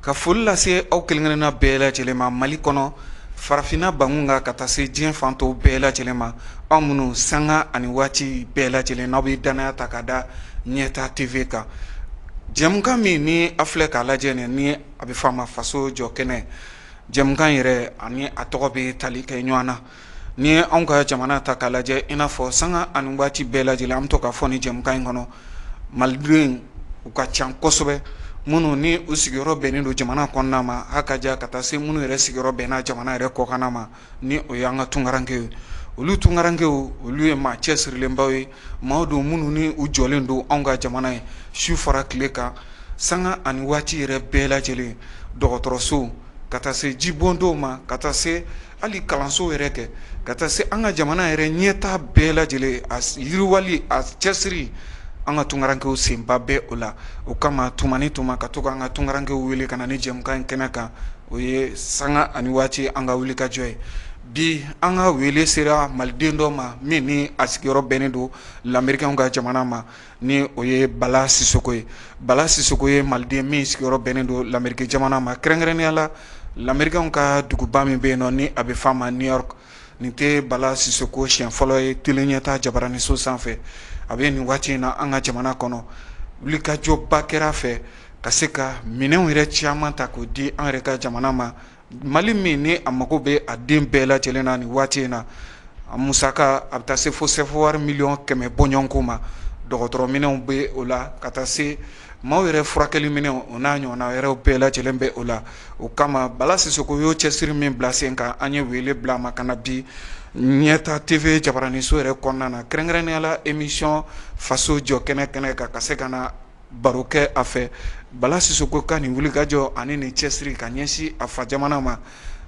Ka foli lase aw kelenkelenna bɛɛ lajɛlen ma mali kɔnɔ farafinna bangu kan ka taa se diɲɛ fan tɔw bɛɛ lajɛlen ma aw minnu sanga ani waati bɛɛ lajɛlen n'aw bɛ dannaya ta ka da ɲɛta TV kan jɛmukan min ni aw filɛ k'a lajɛ nin ni a bɛ fɔ a ma faso jɔ kɛnɛ jɛmukan yɛrɛ ani a tɔgɔ bɛ tali kɛ ɲɔgɔn na Ni i ye anw ka jamana ta k'a lajɛ i n'a fɔ sanga ani waati bɛɛ lajɛlen an bɛ to k'a fɔ nin jɛmukan in kɔnɔ malidenw u ka ca kosɛbɛ minnu ni u sigiyɔrɔ bɛnnen don jamana kɔnɔna ma a ka jan ka taa se minnu yɛrɛ sigiyɔrɔ bɛnna jamana yɛrɛ kɔkanna ma ni o ye an ka tunkarankew ye olu tunkarankew olu ye maa cɛsirilenbaw ye maaw don minnu ni u jɔlen don anw ka jamana ye su fara tile kan sanga ani waati yɛrɛ bɛɛ lajɛlen dɔgɔtɔrɔso ka taa se jibondenw ma ka taa se hali kalanso yɛrɛ kɛ ka taa se an ka jamana yɛrɛ ɲɛtaa bɛɛ lajɛlen a yiriwali a cɛsiri an ka tunkarankew senba bɛ o la o kama tuma ni tuma ka to an ka tunkarankew wele ka na nin jɛmukan in kɛnɛ kan o ye sanga ani waati an ka wulikajɔ ye bi an ka wele sera maliden dɔ ma min ni a sigiyɔrɔ bɛnnen don lamerikɛnw ka jamana ma ni o ye bala sisoko ye bala sisoko ye maliden min sigiyɔrɔ bɛnnen don lameriki jamana ma kɛrɛnkɛrɛnnenya la lamerikɛnw ka duguba min bɛ yen nɔ ni a bɛ f'a ma New York nin tɛ bala sisoko siɲɛ fɔlɔ ye tele ɲɛta jabaraninso sanfɛ a bɛ nin waati in na an ka jamana kɔnɔ wulikajɔba kɛra a fɛ ka se ka minɛnw yɛrɛ caman ta k'o di an yɛrɛ ka jamana ma Mali min ni a mago bɛ a den bɛɛ lajɛlen na nin waati in na a musaka a bɛ taa se fo sɛfawari miliyɔn kɛmɛ bɔɲɔgɔnko ma dɔgɔtɔrɔminɛnw bɛ o la ka taa se maaw yɛrɛ furakɛli minɛnw o n'a ɲɔgɔnna wɛrɛw bɛɛ lajɛlen bɛ o la o kama bala sisoko y'o cɛsiri min bila sen kan an ye wele bila a ma ka na bi ɲɛta TV jabaraninso yɛrɛ kɔnɔna na kɛrɛnkɛrɛnnenya la emisiyɔn faso jɔ kɛnɛ kan ka se ka na baro kɛ a fɛ bala sisoko ka nin wulikajɔ ani nin cɛsiri ka ɲɛsin a fa jamana ma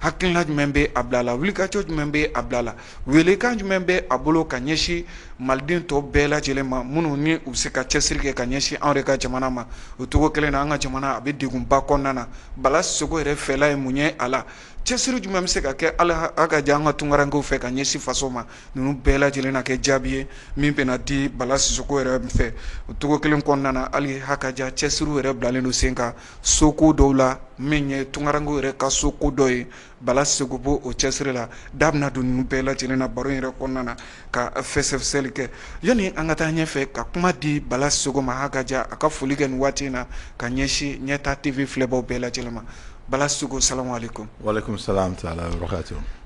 hakilila jumɛn bɛ a bila a la wulikajɔ jumɛn bɛ a bila a la welekan jumɛn bɛ a bolo ka ɲɛsin maliden tɔw bɛɛ lajɛlen ma minnu ni u bɛ se ka cɛsiri kɛ ka ɲɛsin anw yɛrɛ ka jamana ma o cogo kelen na an ka jamana a bɛ degunba kɔnɔna na bala sisoko yɛrɛ fɛla ye mun ye a la cɛsiri jumɛn bɛ se ka kɛ a la a ka jan an ka tunkarankew fɛ ka ɲɛsin faso ma ninnu bɛɛ lajɛlen na kɛ jaabi ye min bɛna di bala sisoko yɛrɛ fɛ o cogo kelen kɔnɔna na hali hakaja cɛsiriw yɛrɛ bilalen don sen kan soko dɔw la min ye tunkarankew yɛrɛ ka soko dɔ ye bala sisoko b'o cɛsiri la da bɛna don ninnu bɛɛ lajɛlen na baro in yɛrɛ kɔnɔna na ka fɛsɛfɛsɛli kɛ yanni an ka taa ɲɛfɛ ka kuma di bala sisoko ma hakaja a ka foli kɛ nin waati in na ka ɲɛsin ɲɛta tv filɛbaw bɛɛ lajɛlen ma bala sisoko salamu alaikum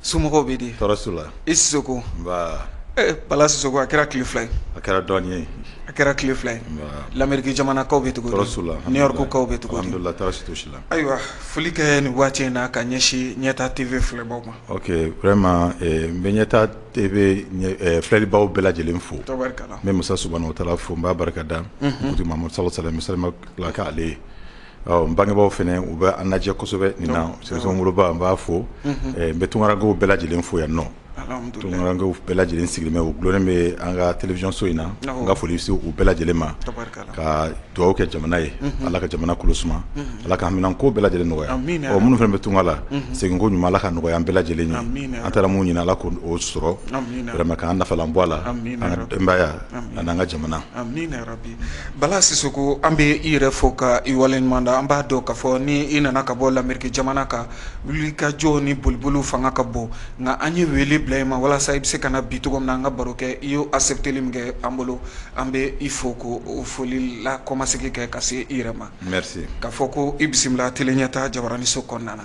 So bɛ di tɔɔrɔso la i seko bala so a kɛra ki fila a kɛra dɔn ye a kɛra ki fila ye lamrike jamanakaw bɛ cogoso la ni yɔrɔkaw bɛ cogosi la ayiwa foli kɛ nin waati in na ka ɲɛsin ɲɛta tebe filɛbaw ma ma n bɛ ɲɛta filɛlibaw bɛɛ lajɛlen fo n masa o taara fo n b'a barika da ma sa sami ale ye n bangebaaw fana u bɛ an lajɛ kosɛbɛ nin na spécialement n woloba n b'a fo n bɛ tunkarankew bɛɛ lajɛlen fo yan nɔ tunkarankew bɛɛ lajɛlen sigilen bɛ u dulonnen bɛ an ka télévision so in na n ka foli se u bɛɛ lajɛlen ma ka dugawu kɛ jamana ye ala ka jamana kolo suma ala ka haminanko bɛɛ lajɛlen nɔgɔya ɔ minnu fana bɛ tunga la segin ko ɲuman ala ka nɔgɔya an bɛɛ lajɛlen ye an taara mun ɲini ala k'o sɔrɔ vraiment k'an nafalan bɔ a la an denbaya ani an ka jamana Bala sisoko an bɛ i yɛrɛ fo ka i waleɲuman da an b'a dɔn k'a fɔ ni i nana ka bɔ lamerike jamana kan wulikajɔ ni boliboliw fanga ka bon nka an ye wele bila i ma walasa i bɛ se ka na bi cogo min na an ka baro kɛ i y'o accepteli min kɛ an bolo an bɛ i fo ko o foli la kɔmasegi kɛ ka se i yɛrɛ ma merci k'a fɔ ko i bisimila tele ɲɛtaa jabaraninso kɔnɔna na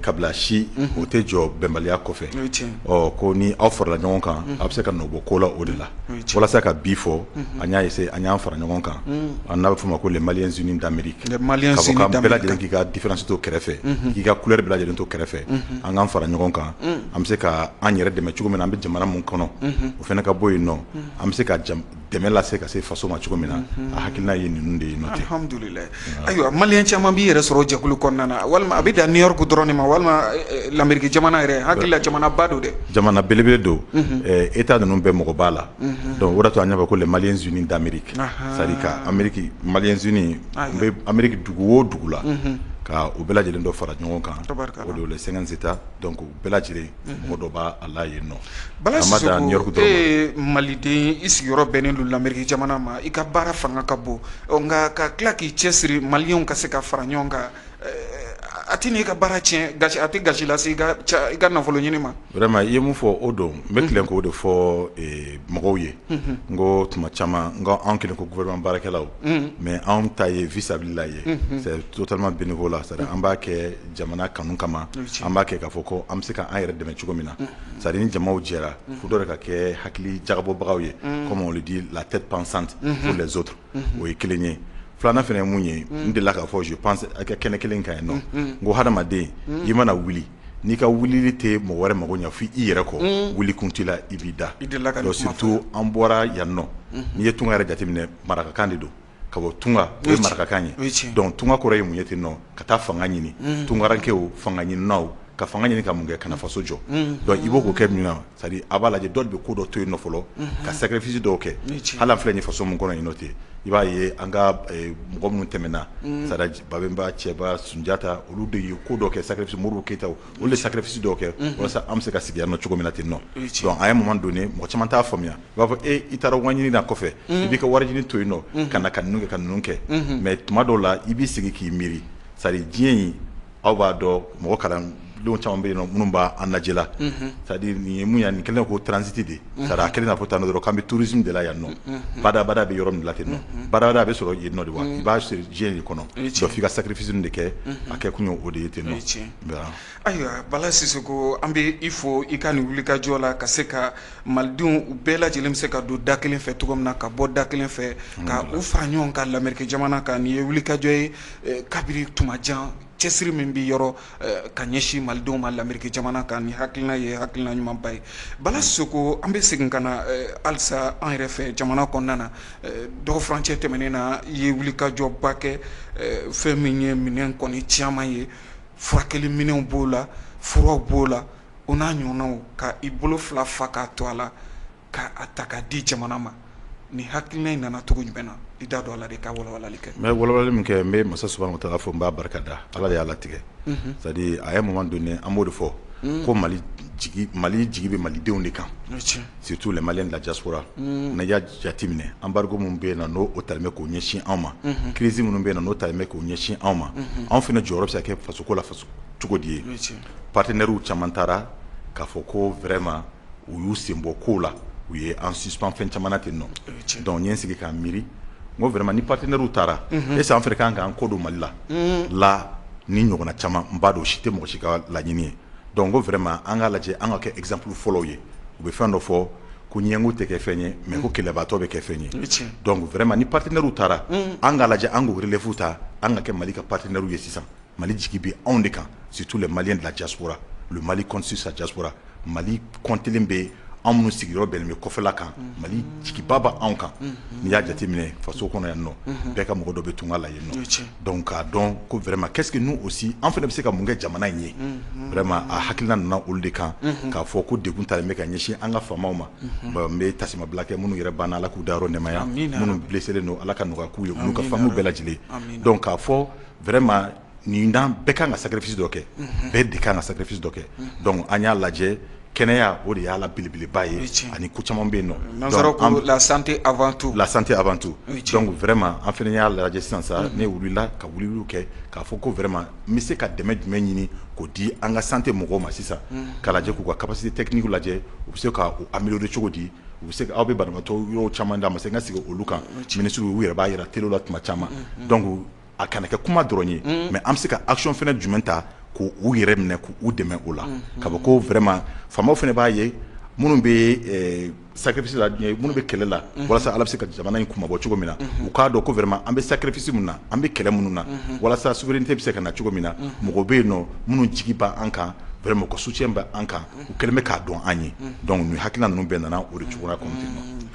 kabila si o tɛ jɔ bɛnbaliya kɔfɛ ko ni aw farala ɲɔgɔn kan a bɛ se ka nɔ bɔ ko la o de la walasa ka bi fɔ an y'a essayer an y'an fara ɲɔgɔn kan n'a bɛ fɔ o ma ko les maliens unis d'amérique bɛɛ lajɛlen k'i ka différence to kɛrɛfɛ k'i ka couleur bɛɛ lajɛlen to kɛrɛfɛ an k'an fara ɲɔgɔn kan an bɛ se ka an yɛrɛ dɛmɛ cogo min na an bɛ jamana min kɔnɔ o fana ka bɔ yen nɔ an bɛ se ka dɛmɛ lase ka se faso ma cogo min na a hakilina ye ninnu de ye nɔ alhamdulillah ayiwa maliyɛn caman b'i yɛrɛ sɔrɔ jɛkulu kɔnɔna na walima a bɛ dan new york dɔrɔn de ma walima lameriki jamana yɛrɛ hakili la jamana ba don dɛ jamana belebele don état ninnu bɛɛ mɔgɔ b'a la dɔnku o de to an y'a fɔ ko les maliens unis d'amérique c'est-à-dire ka ameriki maliens unis bɛ ameriki dugu o dugu la ka u bɛɛ lajɛlen dɔ fara ɲɔgɔn kan o de les cinquante états dɔnku o bɛɛ lajɛlen mɔgɔ dɔ b'a a la yen nɔ Bala Sisoko a ma dan New York dɔrɔn ma e ye Maliden i sigiyɔrɔ bɛnnen don l'Amérique jamana ma i ka baara fanga ka bon ɔ nka ka tila k'i cɛsiri Maliyɛnw ka se ka fara ɲɔgɔn kan ɛɛ a tɛ na i ka baara tiɲɛ gasi a tɛ gasi lase i ka ca i ka nafoloɲini ma vraiment i ye min fɔ o don n bɛ tilen k'o de fɔ ee mɔgɔw ye unhun n ko tuma caman n ko anw kɛlen ko gouvernement baarakɛlaw unhun mais anw ta ye vis à vis la ye unhun c'est totalement bénévolat c'est à dire an b'a kɛ jamana kanu kama an b'a kɛ k'a fɔ ko an bɛ se k'an yɛrɛ dɛmɛ cogo min na c'est à dire ni jama jɛra fo dɔ de ka kɛ hakili jagabɔbagaw ye comme on le dit la tête pensante pour les autres o ye kelen ye filanan fana ye mun ye n delila k'a fɔ je pense a ka kɛnɛ kelen kan yen nɔ n ko hadamaden i mana wuli n'i ka wulili tɛ mɔgɔ wɛrɛ mako ɲɛ fo i yɛrɛ kɔ wuli kun t'i la i b'i da surtout an bɔra yan nɔ n'i ye tunga yɛrɛ jateminɛ marakakan de don ka bɔ tunga ye marakakan ye tunga kɔrɔ ye mun ye ten nɔ ka taa fanga ɲini tungarankɛ fanga ɲinina ka fanga ɲini ka mun kɛ ka na faso jɔ i b'o kɛ min na a b'a lajɛ dɔ de bɛ ko dɔ to yen fɔlɔ ka sacrifice dɔw kɛ hali an filɛ nin faso min kɔnɔ yen nɔ ten i b'a ye an ka mɔgɔ minnu tɛmɛna babɛnba cɛba sunjata olu de ye ko dɔ kɛ sacrifice modibo keyita olu de sacrifice dɔw kɛ walasa an bɛ se ka sigi yan nɔ cogo min na ten nɔ à un moment donné mɔgɔ caman t'a faamuya b'a fɔ e i taara wariɲini na kɔfɛ i b'i ka wariɲini to yen nɔ ka na ka kɛ ka ninnu kɛ mais tuma dɔw la i b'i sigi k'i miiri c'est à dire diɲɛ in aw b'a dɔn mɔgɔ kalannen caman bɛ yen minnu bɛ an lajɛ la c'est à dire nin ye mun ye nin kɛlen ko transit de c'est à dire a kɛlen n'a fɔ tan dɔrɔn k'an bɛ tourisme de la yan nɔ badabada bɛ yɔrɔ min la ten nɔ badabada a bɛ sɔrɔ yen nɔ de wa i b'a sɔrɔ diɲɛ de kɔnɔ donc f'i ka sacrifice de kɛ a kɛ kun ye o de ye ten nɔ Ayiwa Bala Sisoko an bɛ i fo i ka nin wulikajɔ la ka se ka malidenw u bɛɛ lajɛlen bɛ se ka don da kelen fɛ cogo min na ka bɔ da kelen fɛ ka u fara ɲɔgɔn kan l'Amérique jamana kan nin ye wulikajɔ ye kabini tuma jan cɛsiri min bɛ yɔrɔ ka ɲɛsin malidenw ma l'Amérique jamana kan ni hakilina ye hakilina ɲumanba ye Bala Sisoko an bɛ segin ka na halisa an yɛrɛ fɛ jamana kɔnɔna na dɔgɔ furancɛ tɛmɛnen na i ye wulikajɔba kɛ fɛn min ye minɛn kɔni caman ye furakɛli minɛnw b'o la furaw b'o la o n'a ɲɔgɔnnaw ka i bolo fila fa k'a to a la ka a ta ka di jamana ma ni hakilina in nana cogo jumɛn na i da don a la de ka walawalali kɛ mais walawalali min kɛ n bɛ masa subahanahu wa taala fo n b'a barika da ala de y'a latigɛ c'est à dire à un moment donné an b'o de fɔ ko mali jigi bɛ malidenw de kan Surtout les Maliens de la diaspora n'a y'a jateminɛ embargo min bɛ yen nɔ n'o talen bɛ k'o ɲɛsin anw ma crise minnu bɛ yen nɔ n'o talen bɛ k'o ɲɛsin anw ma anw fana jɔyɔrɔ bɛ se ka kɛ fasoko la faso cogo di ye partenaires caman taara k'a fɔ ko vraiment u y'u senbɔ kow la u ye an suspendre fɛn caman na ten nɔ donc n ye n sigi k'a miiri n ko vraiment ni partenaires taara est-ce que an fana ka kan k'an kɔ don mali la la ni ɲɔgɔnna caman n b'a dɔn o si tɛ mɔgɔ si ka laɲini ye Don ko fɛrɛma an k'a lajɛ an ka kɛ ezanp fɔlɔ ye u bɛ fɛn dɔ fɔ ko ɲɛngo tɛ kɛ fɛn ye mɛ ko kɛlɛbaatɔ bɛ kɛ fɛn ye wɛrɛma ni patiinariw taara an k'a lajɛ an koelɛfu ta an ka kɛ mali ka patiinariw ye sisan mali jigi bɛ anw de kan situ la mali lacasora mali kɔnsi sajasora mali kɔnte bɛ yen anw minnu sigiyɔrɔ bɛnnen bɛ kɔfɛla kan mali jigiba bɛ anw kan n'i y'a jateminɛ faso kɔnɔ yan nɔ bɛɛ ka mɔgɔ dɔ bɛ tunga la yen nɔ donc k'a dɔn ko vraiment qu'est-ce que nous aussi an fana bɛ se ka mun kɛ jamana in ye vraiment a hakilina nana olu de kan k'a fɔ ko des dons talen bɛ ka ɲɛsin an ka FAMaw ma n bɛ taasimabila kɛ minnu yɛrɛ banna ala k'u dayɔrɔ nɛmaya minnu blesselen don ala ka nɔgɔya k'u ye olu ka famille bɛɛ lajɛlen donc k'a fɔ vraiment nin dan bɛɛ ka kan ka sacrifice dɔ kɛ, unhun, bɛɛ de ka kan ka sacrifice dɔ kɛ, unhun, donc an y'a lajɛ kɛnɛya o de y'a la belebeleba ye, o ye tiɲɛ ye, ani ko caman bɛ yen nɔ, nansaraw ko la santé avant tout, la santé avant tout, o ye tiɲɛ ye, donc vraiment an fana y'a lajɛ sisan sa, unhun, ne wulila ka wuliliw kɛ k'a fɔ ko vraiment n bɛ se ka dɛmɛ jumɛn ɲini k'o di an ka santé mɔgɔw ma sisan, unhun, k'a lajɛ k'u ka capacité technique lajɛ u bɛ se ka o améliorer cogo di u bɛ se ka aw bɛ banabaatɔ yɔrɔ caman d'a ma sisan n ka segin olu kan, o ye tiɲɛ ye, ministres u yɛrɛ b'a jira telew la tuma caman, unhun, donc a kana kɛ kuma dɔrɔn ye mais an bɛ se ka action fana jumɛn ta k' u yɛrɛ minɛ k' u dɛmɛ o la ka bɔ ko vraiment FAMa fana b'a ye minnu bɛ sacrifice la minnu bɛ kɛlɛ la walasa ala bɛ se ka jamana in kunmabɔ cogo min na u k'a dɔn ko vraiment an bɛ sacrifice min na an bɛ kɛlɛ minnu na walasa souveraineté bɛ se ka na cogo min na mɔgɔ bɛ yen nɔ minnu jigi bɛ an kan vraiment u ka soutien bɛ an kan u kɛlen bɛ k'a dɔn an ye donc nin hakilina ninnu bɛɛ nana o de cogoya kɔnɔ ten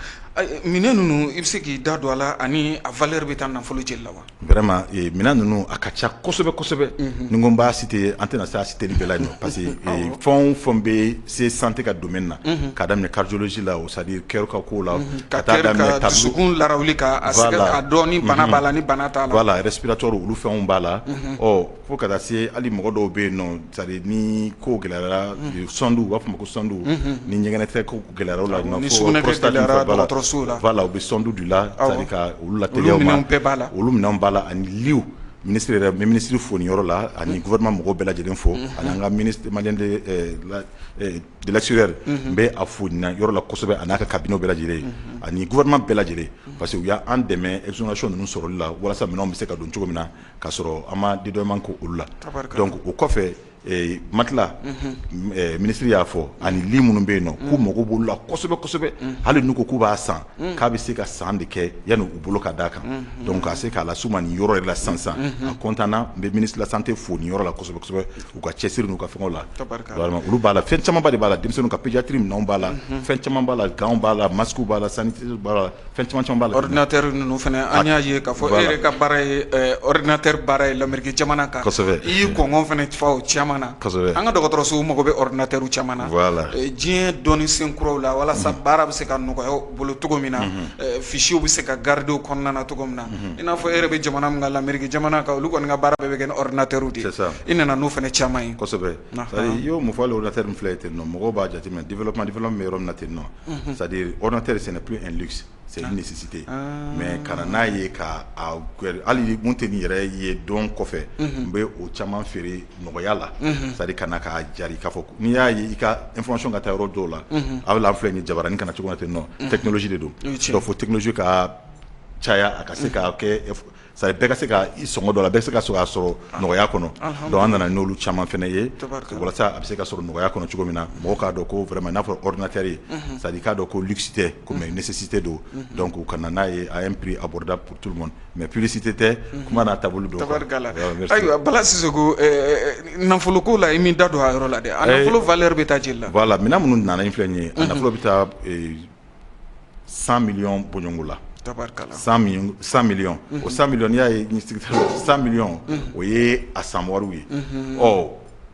Minɛn ninnu i bɛ se k'i da don a la ani a valeur bɛ taa nafolo jeli la wa vraiment minɛn ninnu a ka ca kosɛbɛ kosɛbɛ ni n ko n b'a citer an tɛna se a citerli bɛɛ la yen nɔ parce que fɛn o fɛn bɛ se santé ka domaine na k'a daminɛ cardiologie la c'est-à-dire cœur ka ko la ka taa dusukun lawuli k'a dɔn ni bana b'a la ni bana t'a la voilà respiratoire olu fɛnw b'a la ɔ fo ka taa se hali mɔgɔ dɔw bɛ yen nɔ C'est-à-dire ni ko gɛlɛyara sonde u b'a fɔ ma ko sonde ni ɲɛgɛnɛ kɛ ko gɛlɛyara voilà u bɛ sonde de la ka la bɛɛ b'a la olu minɛnw b'a la ani litw ministre yɛrɛ n bɛ ministre fo nin yɔrɔ la ani gouvernement mɔgɔ bɛɛ lajɛlen fo ani an ka Maliens de l'extérieur n bɛ a fo nin yɔrɔ la kosɛbɛ a n'a ka cabinet bɛɛ lajɛlen ye ani gouvernement bɛɛ lajɛlen parce que u y'an dɛmɛ exonération ninnu sɔrɔli la walasa minɛnw bɛ se ka don cogo min na k'a sɔrɔ an ma dédouanement kɛ olu la donc o kɔfɛ matelas ministre y'a fɔ ani lit minnu bɛ yen nɔ k'u mako b'olu la kosɛbɛ kosɛbɛ hali n'u ko k'u b'a san k'a bɛ se ka san de kɛ yanni u bolo ka d'a kan donc k'a se k'a las'u ma nin yɔrɔ yɛrɛ la sansan a contentna n bɛ ministre de la santé fo nin yɔrɔ la kosɛbɛ kosɛbɛ u ka cɛsiri n'u ka fɛnw la olu b'a la fɛn camanba de b'a la denmisɛnninw ka pédiatrie minɛnw b'a la fɛn caman b'a la gantw b'a la masquew b'a la san b'a la Fɛn caman caman b'a la ordinateur ninnu fana an y'a ye k'a fɔ e yɛrɛ ka baara ye ordinateur baara ye l'Amerique jamana kan, kosɛbɛ, i y'i kɔngɔ fana fa o caman na, kosɛbɛ, an ka dɔgɔtɔrɔsow mago bɛ ordinateur caman na, voila, diɲɛ dɔnni sen kuraw la walasa baara bɛ se ka nɔgɔya u bolo cogo min na, unhun, fiches bɛ se ka garder u kɔnɔna na cogo min na, unhun, i n'a fɔ e yɛrɛ bɛ jamana min kan l'Amerique jamana kan olu kɔni ka baara bɛɛ bɛ kɛ ni ordinateur de ye, c'est ça, i nana n'o fana caman ye, kosɛbɛ, i y'o min fɔ hali ordinateur min filɛ nin ye ten mɔgɔw b'a jateminɛ développement développement bɛ yɔrɔ min na ten sadiri otɛ de sɛnɛ p in sesite mɛ ka n'a ye ka hali kun tɛ nin yɛrɛ ye dɔn kɔfɛ n bɛ o caman feere nɔgɔya la sari ka na ka jara k'a fɔ n'i y'a ye i ka n fɔsɔn ka taa yɔrɔ dɔw la a bɛ filɛ ni jarain kana na cogo ten nɔ tɛsi de don fo tɛsi ka caya a ka se k' kɛ C'est à dire bɛɛ ka se ka i sɔngɔ dɔ la bɛɛ ka se ka a sɔrɔ nɔgɔya kɔnɔ donc an nana n'olu caman fana ye walasa a bɛ se ka sɔrɔ nɔgɔya kɔnɔ cogo min na mɔgɔ k'a dɔn ko vraiment n'a fɔra ordinateur ye c'est à dire k'a dɔn ko luxe tɛ ko mais nécessité don donc u ka na n'a ye à un prix abordable pour tout le monde mais publicité tɛ kuma n'a taabolo don ayiwa Bala Sisoko nafoloko la i m'i da don a yɔrɔ la dɛ a nafolo valeur bɛ taa jeli la voilà minɛn minnu nana in filɛ ye a nafolo bɛ taa san mi bɔnɲɔgo la san mi o san mi'i y'a ye san miliy o ye a san ye ɔ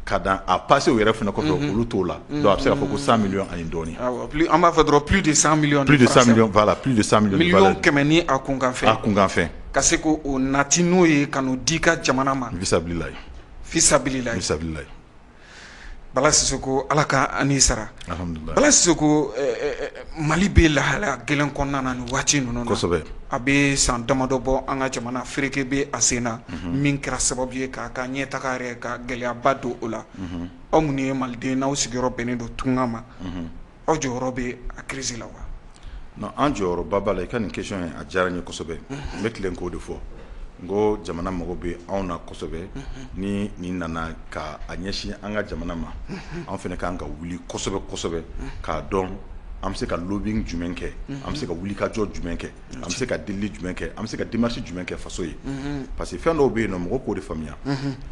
ka dan a pase yɛrɛ fana kɔfɛ olu t'o la a bɛ se' fɔ ko san mi ani dɔɔnin an b'a fɛ dɔrɔn p de san mi de san la p de san kɛmɛ ni a kunkanfɛ a kunkanfɛn ka se ko o nati n'o ye ka di ka jamana ma sabulabila sabulabila Bala Sisoko Ala k'a n'i sara Bala Sisoko Mali bɛ lahalaya gɛlɛn kɔnɔna na nin waati ninnu na a bɛ san damadɔ bɔ an ka jamana fereke bɛ a sen na min kɛra sababu ye k'a ka ɲɛ taga yɛrɛ ka gɛlɛyaba don o la aw minnu ye maliden n'aw sigiyɔrɔ bɛnnen don tunga ma aw jɔyɔrɔ bɛ a crise la wa non an jɔyɔrɔba b'a la i ka nin question ye a diyara n ye kosɛbɛ n bɛ tilen k'o de fɔ n ko jamana mago bɛ anw na kosɛbɛ ni nin nana ka a ɲɛsin an ka jamana ma an fana kan ka wuli kosɛbɛ kosɛbɛ k'a dɔn an bɛ se ka lobbying jumɛn kɛ an bɛ se ka wulikajɔ jumɛn kɛ an bɛ se ka delili jumɛn kɛ an bɛ se ka démarche jumɛn kɛ faso ye parce que fɛn dɔw bɛ yen nɔ mɔgɔ k'o de faamuya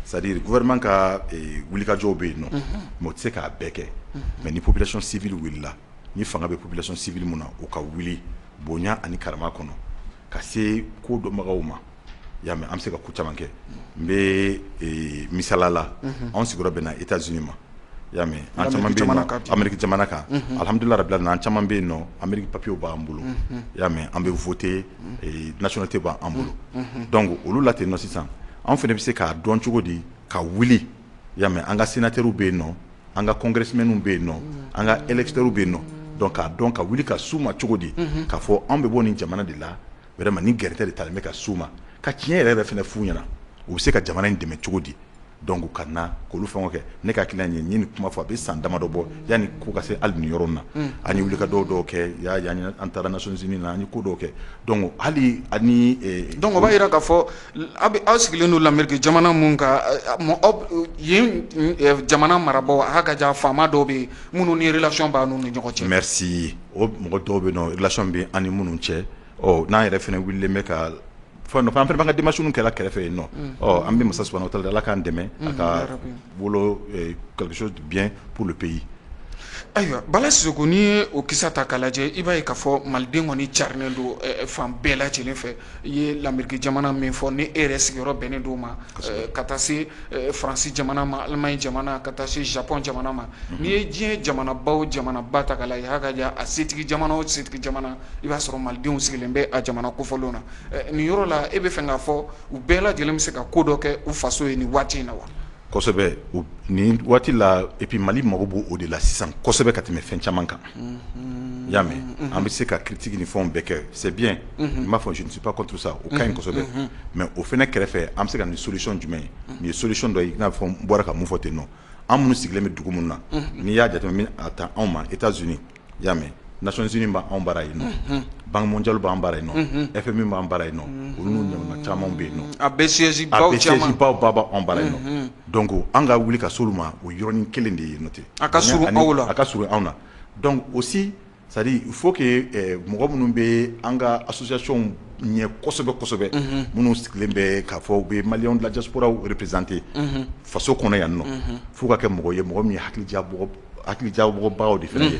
c'est à dire gouvernement ka wulikajɔw bɛ yen nɔ mais o tɛ se k'a bɛɛ kɛ mais ni population civile wulila ni fanga bɛ population civile min na o ka wuli bonya ani karama kɔnɔ ka se ko dɔnbagaw ma y'a mɛ an be se ka ko caman kɛ unhun n be ee misali la unhun anw sigiyɔrɔ bɛnna Etats Unis ma i y'a mɛ an caman be yennɔ Amérique jamana kan unhun alhamdulila rabil alamina an caman be yennɔ Amérique papier u b'an bolo unhun i y'a mɛ an be voter ee nationalité b'an bolo unhun donc olu la tennɔ sisan anw fɛnɛ be se k'a dɔn cogodi ka wuli i y'a mɛ an ka sénateur u be yennɔ an ka congressmen u be yennɔ an ka électeurs u be yennɔ donc k'a dɔn ka wuli ka s'u ma cogodi unhun k'a fɔ anw be bɔ nin jamana de la vraiment ni gɛrɛntɛ de talen bɛ ka s'u ma ka tiɲɛ yɛrɛ yɛrɛ fana f'u ɲɛna u bɛ se ka jamana in dɛmɛ cogo di donc ka na k'olu fɛnw kɛ ne hakili la ne ye nin kuma fɔ a bɛ san damadɔ bɔ yanni ko ka se hali nin yɔrɔ na an ye wulikajɔ dɔw kɛ yan an taara Nations Unies na an ye ko dɔw kɛ donc hali ani donc o b'a jira k'a fɔ aw bɛ aw sigilen don l'Amérique jamana min kan yen jamana marabagaw aw ka jan faama dɔw bɛ yen minnu ni relation b'aw n'u ni ɲɔgɔn cɛ o mɔgɔ dɔw bɛ yen nɔ relation bɛ an ni minnu cɛ n'an yɛrɛ fana wililen bɛ k'a fɔ an fana b'an ka démarche kɛla kɛrɛfɛ yen nɔ an bɛ masa subahana wa taala deli ala k'an dɛmɛ a ka wolo quelque chose de bien pour le pays ayiwa bala sisoko n'i ye o kisa ta k'a lajɛ i b'a ye k'a fɔ maliden kɔni carilen don fan bɛɛ lajɛlen fɛ i ye l'Amérique jamana min fɔ ni e yɛrɛ sigiyɔrɔ bɛnnen don o ma ka taa se faransi jamana ma Allemagne jamana ka taa se Japon jamana ma n'i ye diɲɛ jamana ba o jamana ba ta k'a lajɛ a ka jan a setigi jamana o setigi jamana i b'a sɔrɔ malidenw sigilen bɛ a jamana kofɔlenw na nin yɔrɔ la e bɛ fɛ k'a fɔ u bɛɛ lajɛlen bɛ se ka ko dɔ kɛ u faso ye nin waati in na wa kosɛbɛ nin waati la et puis mali mako b'o de la sisan kosɛbɛ ka tɛmɛ fɛn caman kan y'a mɛ an bɛ se ka critique ni fɛnw bɛɛ kɛ c'est bien n b'a fɔ je ne suis pas contre ça o ka ɲi kosɛbɛ mais o fana kɛrɛfɛ an bɛ se ka na ni solution jumɛn ye nin ye solution dɔ ye i n'a fɔ n bɔra ka mun fɔ ten nɔ an minnu sigilen bɛ dugu minnu na n'i y'a jateminɛ a ta anw ma Etats Unis y'a mɛ Nations Unies b'anw bara yen nɔ Banque mondiale b'an bara yen nɔ FMI b'an bara yen nɔ olu ɲɔgɔnna caman bɛ yen nɔ a bɛɛ siège baw b'anw bara yen nɔ donc an ka wuli ka s'olu ma o yɔrɔnin kelen de ye n'o tɛ a ka surun aw la a ka surun anw na donc aussi c'est à dire il faut que mɔgɔ minnu bɛ an ka associationw ɲɛ kosɛbɛ kosɛbɛ minnu sigilen bɛ k'a fɔ u bɛ maliyɛn de la diasporaw représenter faso kɔnɔ yan nɔ f'u ka kɛ mɔgɔ ye mɔgɔ min ye hakilijagabɔbagaw de fana ye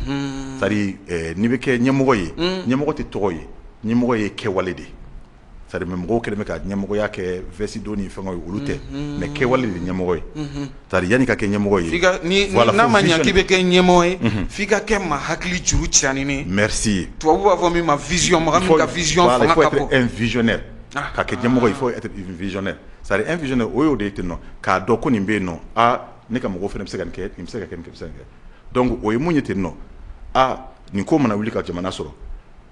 c'est à dire n'i bɛ kɛ ɲɛmɔgɔ ye ɲɛmɔgɔ tɛ tɔgɔ ye ɲɛmɔgɔ ye kɛwale de ye c'est à dire mɔgɔw kɛlen bɛ ka ɲɛmɔgɔya kɛ veste don ni fɛn ye olu tɛ mais kɛwale de ye ɲɛmɔgɔ ye c'est à dire yanni ka kɛ ɲɛmɔgɔ ye n'a ma ɲɛ k'i bɛ kɛ ɲɛmɔgɔ ye f'i ka kɛ maa hakili juru caanien mrisi ye tubabu b'a fɔ min ma vision mɔgɔ il faut être visionnaire ka kɛ ɲɛmɔgɔ il faut être visionnaire c'est à dire un visionnaire o y'o de ye ten nɔ k'a dɔn ko nin bɛ yen nɔ aa ne ka mɔgɔw fana bɛ se ka nin kɛ nin bɛ se ka kɛ donc o ye mun ye ten nɔ aa nin ko mana wuli ka jamana sɔrɔ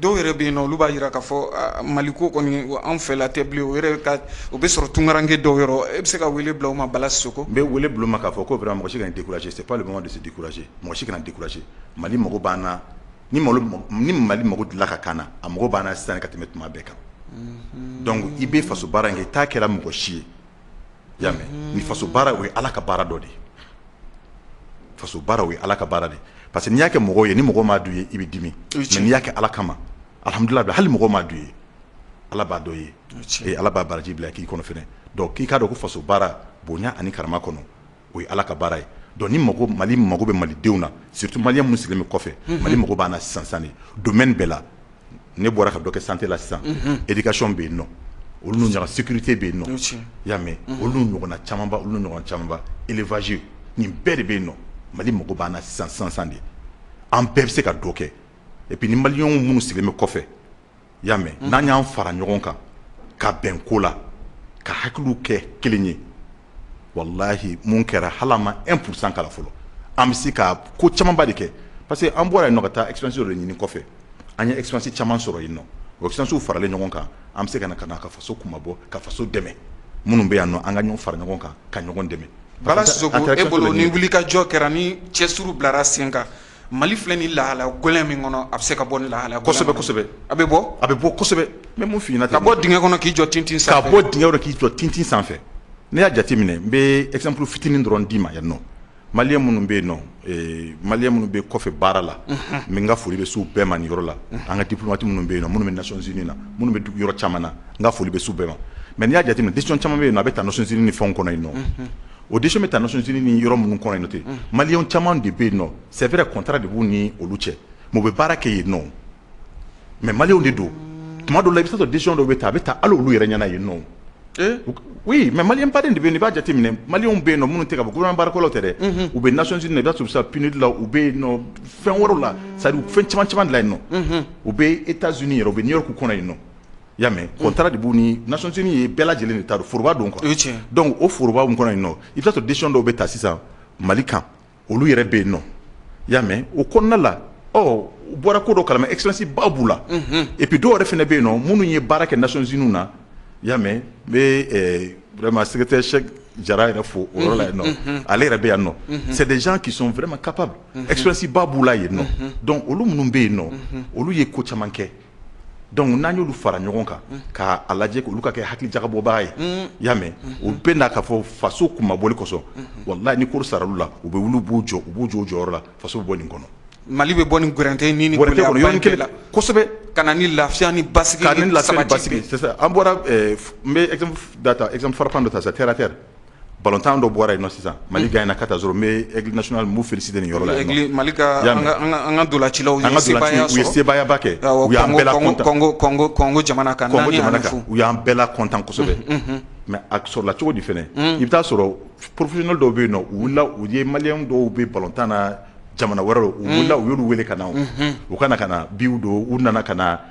Dɔw yɛrɛ bɛ yen nɔ olu b'a jira k'a fɔ mali ko kɔni an fɛla tɛ bilen o yɛrɛ o bɛ sɔrɔ tunkaranke dɔw yɔrɔ e bɛ se ka wele bila u ma bala sisoko n bɛ wele bila u ma k'a fɔ ko vraiment mɔgɔ si kana décourager c'est pas le moment de se décourager mɔgɔ si kana décourager mali mako b'an na ni ni mali mako delila ka k'an na a mako b'an na sisan ka tɛmɛ tuma bɛɛ kan donc i bɛ faso baara in kɛ i t'a kɛra mɔgɔ si ye y'a mɛ ni faso baara o ye ala ka baara dɔ de ye faso baara o ye ala ka baara de parce que n'i y'a kɛ mɔgɔw ye ni mɔgɔ m'a dɔn i ye i bɛ dimi mais n'i y'a kɛ ala kama alhamdulilahi hali mɔgɔ m'a dɔn i ye ala b'a dɔn i ye ee ala b'a baraji bila k'i kɔnɔ fɛnɛ donc k'i k'a dɔn ko faso baara bonya ani karama kɔnɔ o ye ala ka baara ye donc ni mali mago bɛ malidenw na surtout malien minnu sigilen bɛ kɔfɛ mali mago b'an na sisan sisan de domaine bɛɛ la ne bɔra ka dɔ kɛ santé la sisan éducation bɛ yen nɔ olu n'u ɲɔgɔn sécurité bɛ yen nɔ y'a mɛ olu n'u ɲɔgɔnna camanba olu n'u ɲɔgɔnna camanba élevage nin bɛɛ de bɛ yen nɔ mali mako b'an na sisan sisan de an bɛɛ bɛ se ka dɔ kɛ et puis ni malienw minnu sigilen bɛ kɔfɛ y'a mɛ n'an y'an fara ɲɔgɔn kan ka bɛn ko la ka hakiliw kɛ kelen ye walahi mun kɛra hali ma un pour cent kala fɔlɔ an bɛ se ka ko camanba de kɛ parce que an bɔra yen nɔ ka taa expérience de ɲini kɔfɛ an ye expérience caman sɔrɔ yen nɔ o expériencew faralen ɲɔgɔn kan an bɛ se ka na ka na ka faso kunmabɔ ka faso dɛmɛ minnu bɛ yan nɔ an ka ɲɔgɔn fara ɲɔgɔn kan ka ɲɔgɔn dɛmɛ bala sisoko e bolo ni wuli ka jɔ kɛra ni cɛsiri bilara sen kan Mali filɛ nin lahala gɛlɛn min kɔnɔ a bɛ se ka bɔ nin lahala a bɛ bɔ a bɛ bɔ n b'a f'i ɲɛna ka bɔ dingɛ kɔnɔ k'i jɔ tintin sanfɛ ka bɔ dingɛ kɔnɔ k'i jɔ tintin sanfɛ n'i y'a jate minɛ n bɛ exemple fitinin dɔrɔn d'i ma yan nɔ malien minnu bɛ yen nɔ malien minnu bɛ kɔfɛ baara la n ka foli bɛ s'u bɛɛ ma nin yɔrɔ la an ka diplomate minnu bɛ yen nɔ minnu bɛ Nations Unies na minnu bɛ dugu yɔrɔ caman na n ka foli bɛ s'u bɛɛ ma mais n'i y'a jate minɛ décision caman bɛ yen nɔ a bɛ ta Nations Unies ni fɛnw kɔnɔ yen nɔ o de bɛ taac ni yɔrɔ minnu kɔn ten mali caman de bɛ yen nɔ sɛɛrɛ kɔnta de b'u ni olu cɛ mɔgɔ bɛ baara kɛ yen nɔ mɛ maliw de don tuma don la i bɛ sɔrɔ disɔn dɔw bɛ taa a bɛ taa ala olu yɛrɛ ɲɛna yen nɔ mɛ mali ba de bɛ b'a jate minɛ mali bɛ yen minnu tigɛ ka bkɔ tɛ dɛ u bɛ naonc i da tun bɛ sa pini la u bɛ fɛn wɛrɛ la sa u fɛn caman caman la yen nɔ u bɛ e taz yɛrɛ u bɛ ɲɛ' kɔnɔ yen nɔ y'a mɛ unhun contrat de b'u ni Nations Unies ye bɛɛ lajɛlen de ta don foroba don quoi o ye tiɲɛ ye donc o foroba min kɔnɔ yen nɔ i be t'a sɔrɔ décision dɔw be ta sisan Mali kan olu yɛrɛ be yennɔ i y'a mɛ o kɔnɔna la ɔ u bɔra ko dɔ kalama expérience ba b'u la unhun et puis dɔw yɛrɛ fɛnɛ be yennɔ minnu ye baara kɛ Nations Unies na i y'a mɛ n be ɛɛ vraiment secrétaire Cheick Jara yɛrɛ fo o yɔrɔ la yennɔ unhun unhun ale yɛrɛ be yannɔ unhun c'est des gens qui sont vraiment capables unhun expérience ba b'u la yennɔ unhun donc olu minnu be yennɔ unhun olu ye ko caman kɛ donc n'an y'olu fara ɲɔgɔn kan k'a lajɛ olu ka kɛ hakili jagabɔbaga ye i y'a mɛ u bɛ na k'a fɔ faso kunmabɔli kɔsɔn walayi ni ko saral'u la u bɛ wuli u b'u jɔ u b'u jɔ jɔyɔrɔ la faso bɛ bɔ nin kɔnɔ mali bɛ bɔ nin gɛrɛntɛ ni gɛlɛya la kosɛbɛ ka na ni lafiya ni basigi la an bɔra n bɛ exemple frappant dɔ ta sa terre à terre Balɔntan dɔ bɔra yen sisan mali gagnera 4-0 n bɛ Aigle national n b'u féliciter nin yɔrɔ la an ka ntolacilaw u ye sebayaba kɛ Congo jamana kan u y'an bɛɛ la content kosɛbɛ mais a sɔrɔla cogo di fana i bɛ t'a sɔrɔ professionnel dɔw bɛ yen u ye malien dɔw bɛ balɔntan na jamana wɛrɛ u wulila u y'olu weele ka na u kana ka na bi don u nana ka na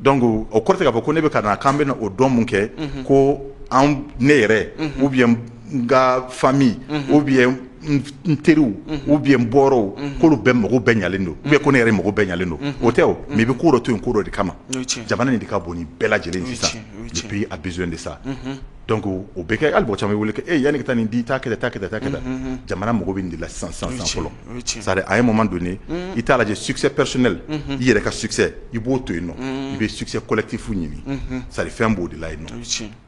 donc o kɔrɔ tɛ k'a fɔ ko ne bɛ ka na k'an bɛna o dɔn min kɛ, unhun, ko anw ne yɛrɛ, unhun, ou bien n ka famille, unhun, ou bien n teriw, unhun, ou bien n bɔɔrɔw, unhun, k'olu bɛɛ mako bɛɛ ɲɛlen don, unhun, ou bien ko ne yɛrɛ mako bɛɛ ɲɛlen don, unhun, o tɛ o, unhun, mais i bɛ ko dɔ to yen ko dɔ de kama, o ye tiɲɛ ye, jamana in de ka bon ni bɛɛ lajɛlen ye sisan, o ye tiɲɛ ye, le pays a besoin de ça, unhun, donc o bɛ kɛ hali mɔgɔ caman bɛ wele ko e yanni i ka taa nin di taa kɛ tan taa kɛ tan, unhun, jamana mako bɛ nin de la sisan sisan fɔlɔ c'est-à-dire à un moment donné i t'a lajɛ succès personnel i yɛrɛ ka succès i b'o to yen i bɛ succès collectif ɲini c'est-à-dire fɛn b'o de la yen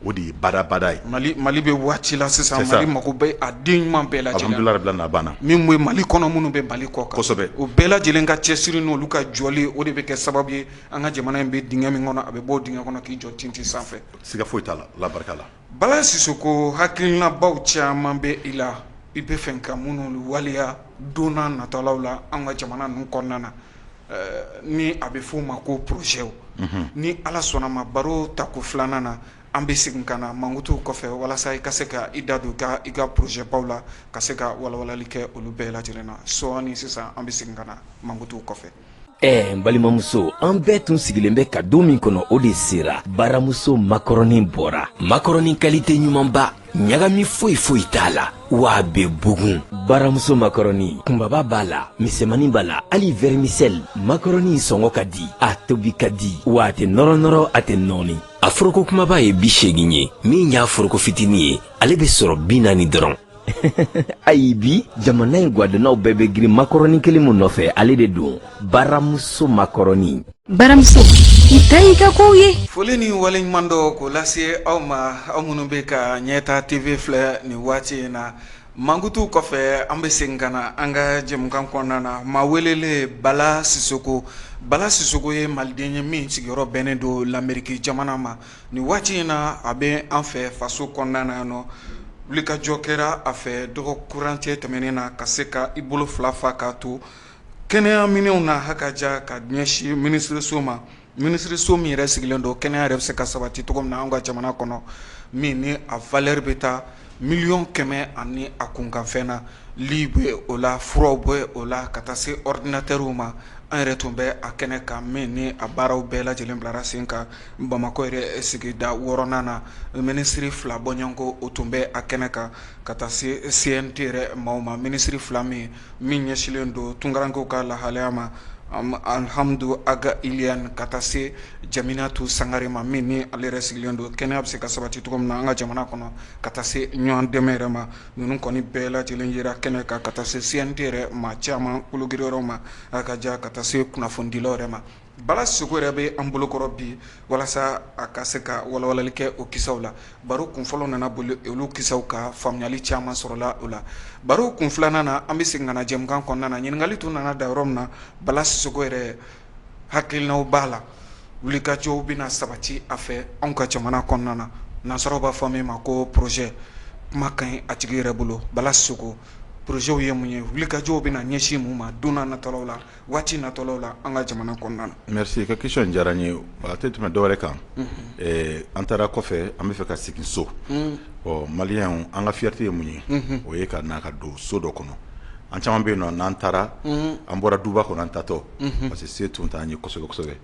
o de ye badabada ye mali mali bɛ waati la sisan mali mako bɛ a den ɲuman bɛɛ la alhamdulilayi rabil alamina a banna min ye mali kɔnɔ minnu bɛ mali kɔkan kosɛbɛ o bɛɛ lajɛlen ka cɛsiri n'olu ka jɔlen o de bɛ kɛ sababu ye an ka jamana in bɛ dingɛ min kɔnɔ a bɛ bɔ o dingɛ kɔnɔ k'i jɔ tintin sanfɛ siga foyi t'a la ala barika la Bala Sisoko hakilinabaw caman bɛ i la i bɛ fɛ ka minnu waleya don nataw la an ka jamana ninnu kɔnɔna na ni a bɛ f'o ma ko porozɛw ni ala sɔnna ma baro tako filanan na an bɛ segin ka na mankutu kɔfɛ walasa i ka se ka i da don ka i ka porozɛbaw la ka se ka walawalali kɛ olu bɛɛ lajɛlen na sɔɔni sisan an bɛ segin ka na mankutu kɔfɛ ɛɛ n balimamuso an bɛɛ tun sigilen bɛ ka don min kɔnɔ o de sera baramuso makɔrɔnin bɔra makɔrɔnin kalite ɲumanba ɲagami foyi foyi t'a la wa a bɛ bugun baramuso makɔrɔni kunbaba b'a la misɛmani b'a la hali vɛrimisɛli makɔrɔni sɔngɔ ka di a tobi ka di wa a tɛ nɔrɔnɔrɔ a tɛ nɔɔni a foroko kumaba ye bi seegin ye min y'a foroko fitinin ye ale bɛ sɔrɔ bi naani dɔrɔn ayi bi jamana in gwadonnaw bɛɛ bɛ girin makɔrɔni kelen min nɔfɛ ale de don baramuso makɔrɔni baramuso i ta y'i ka kow ye foli ni waleɲumandɔn k'o lase aw ma aw minnu bɛ ka ɲɛta tv filɛ nin waati in na mankutu kɔfɛ an bɛ segin ka na an ka jɛmukan kɔnɔna na maa welelen bala sisoko bala sisoko ye maliden ye min sigiyɔrɔ bɛnnen don lamɛriki jamana ma Nin waati in na a bɛ an fɛ faso kɔnɔna na yan nɔ wulikajɔ kɛra a fɛ dɔgɔ furancɛ tɛmɛnen na ka se ka i bolo fila fa k'a to kɛnɛya minɛnw na ha ka ja ka ɲɛsin minisiriso ma minisiriso min yɛrɛ sigilen don kɛnɛya yɛrɛ bɛ se ka sabati cogo min na an ka jamana kɔnɔ min ni a valeur bɛ taa miliyɔn kɛmɛ ani a kunkanfɛn na li bɛ o la furaw bɛ o la ka taa se ɔridinatɛriw ma an yɛrɛ tun bɛ a kɛnɛ kan min ni a baaraw bɛɛ lajɛlen bilara sen kan bamakɔ yɛrɛ sigida wɔɔrɔnan na minisiri fila bɔɲɔgɔnko o tun bɛ a kɛnɛ kan ka taa se CNT yɛrɛ maaw ma minisiri fila min min ɲɛsinlen don tunkarankew ka lahalaya ma alihamdu agi iliyɛn ka taa se jaminatu sangare ma min ni ale yɛrɛ sigilen don kɛnɛya bɛ se ka sabati cogo min na an ka jamana kɔnɔ ka taa se ɲɔgɔn dɛmɛ yɛrɛ ma ninnu kɔni bɛɛ lajɛlen yera kɛnɛ kan ka taa se CNT yɛrɛ maa caman kulugri yɔrɔ ma a ka jan ka taa se kunnafonidilaw yɛrɛ ma bala soko yɛrɛ bɛ an bolokɔrɔ bi walasa a ka se ka walawalali kɛ o kisaw la baro kun fɔlɔ nana boli olu kisaw ka faamuyali caman sɔrɔla o la baro kun filanan na an bɛ segin ka na jɛmukan kɔnɔna na ɲininkali tun nana da yɔrɔ min na bala soko yɛrɛ hakilinaw b'a la wulikajɔw bɛna sabati a fɛ anw ka jamana kɔnɔna na nansaraw b'a fɔ min ma ko projet kuma ka ɲi a tigi yɛrɛ bolo Bala Soko projets ye mun ye wulikajɔw bɛna ɲɛsin mun ma don nataw la waati nataw la an ka jamana kɔnɔna na. Merci i ka question in diyara n ye a tɛ tɛmɛ dɔwɛrɛ kan an taara kɔfɛ an bɛ fɛ ka segin so ɔ maliyɛnw an ka fierté ye mun ye o ye ka na ka don so dɔ kɔnɔ an caman bɛ yen nɔ n'an taara an bɔra duba kɔnɔ an taatɔ parce que se tun t'an ye kosɛbɛ kosɛbɛ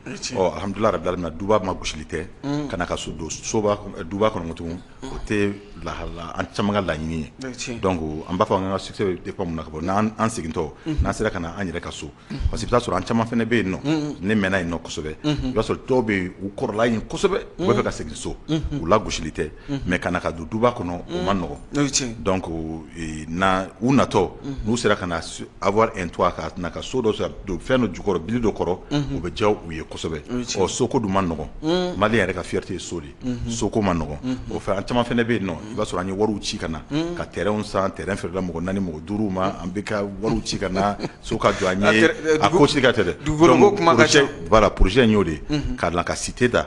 alhamdulilayi rabil alamin duba magosili tɛ ka na ka so don soba duba kɔnɔ tugun o tɛ lahala an caman ka laɲini ye donc an b'a fɔ an ka succès bɛ dépend mun na ka bɔ n'an segintɔ n'an sera ka na an yɛrɛ ka so parce que i bɛ t'a sɔrɔ an caman fana bɛ yen nɔ ne mɛnna yen nɔ kosɛbɛ i b'a sɔrɔ dɔw bɛ yen u kɔrɔla yen kosɛbɛ u bɛ fɛ ka segin so u lagosili tɛ mais ka na ka don duba kɔnɔ o man nɔgɔ donc u natɔ n'u sera ka na avoir un toit ka na ka so dɔ don fɛn dɔ jukɔrɔ bili dɔ kɔrɔ o bɛ diya u ye kosɛbɛ soko dun man nɔgɔ mali yɛrɛ ka fierté ye so de soko man nɔgɔ o fɛ an caman fana bɛ yen nɔ i b'a sɔrɔ an ye wari ci ka na ka terrainw san terrain feerela mɔgɔ naani mɔgɔ duuru ma an bɛ ka wari ci ka na so ka jɔ a ko si ka tɛ dɛ projet in y'o de ka ka cité da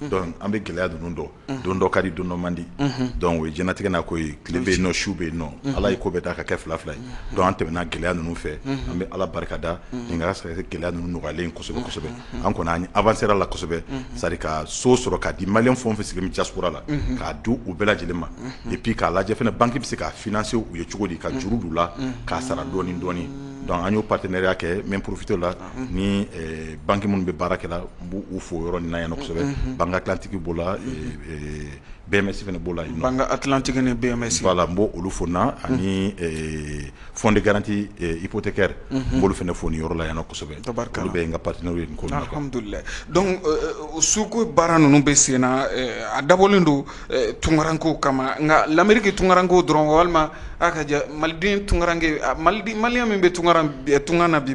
donc an bɛ gɛlɛya ninnu dɔn don dɔ ka di don dɔ man di donc o ye diɲɛlatigɛ n'a ko ye tile bɛ yen nɔ su bɛ yen nɔ ala ye ko bɛɛ da ka kɛ fila fila ye donc an tɛmɛna gɛlɛya ninnu fɛ an bɛ ala barikada nin sɔrɔ gɛlɛya ninnu nɔgɔyalen kosɛbɛ kosɛbɛ an kɔni an avancéra la kosɛbɛ c'est-à-dire ka so sɔrɔ ka di malien fɛn o fɛn sigilen bɛ diaspora la k'a di u bɛɛ lajɛlen ma et puis k'a lajɛ fɛnɛ banque bɛ se ka financer u ye cogo di ka juru d'u la k'a sara dɔɔnin dɔɔnin donc an y'o partenariat kɛ n bɛ profiter la ni bange minnu bɛ baarakɛ n b' u fɔ yɔrɔ na yansɛbɛ bangegantigiw b'o la bɛɛmɛ b'o la bangegantigiig ni bɛfa la n b' olu fɔ na ani fɔɔn de garanti ipte kɛra n bolo fana fo ni yɔrɔ la yansɛbɛ tari bɛ yen ka pati n'o ye suko baara ninnu bɛ sen na a dabɔlen don tunkaranko kama nka lammirike tunkaranko dɔrɔn walima aa ka maliden tunkarakarankɛ mali maliya min bɛ tunga tunga na bi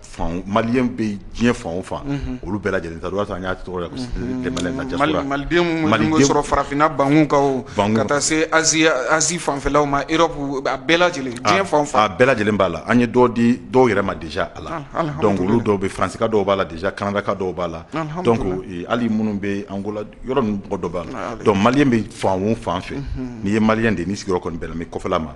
Fan malien bɛ diɲɛ fan o fan olu bɛɛ lajɛlen ta y'a sɔrɔ farafinna bankun kan ka taa se Asie fanfɛlaw ma Europe a bɛɛ lajɛlen diɲɛ fan o fan a bɛɛ lajɛlen b'a la an ye dɔ di dɔw yɛrɛ ma déjà a la donc olu dɔw bɛ Faransi ka dɔw b'a la déjà Canada ka dɔw b'a la donc hali minnu bɛ Angola yɔrɔ ninnu mɔgɔ dɔ b'a la donc malien bɛ fan o fan fɛ n'i ye malien de ni sigiyɔrɔ kɔni bɛnna kɔfɛla ma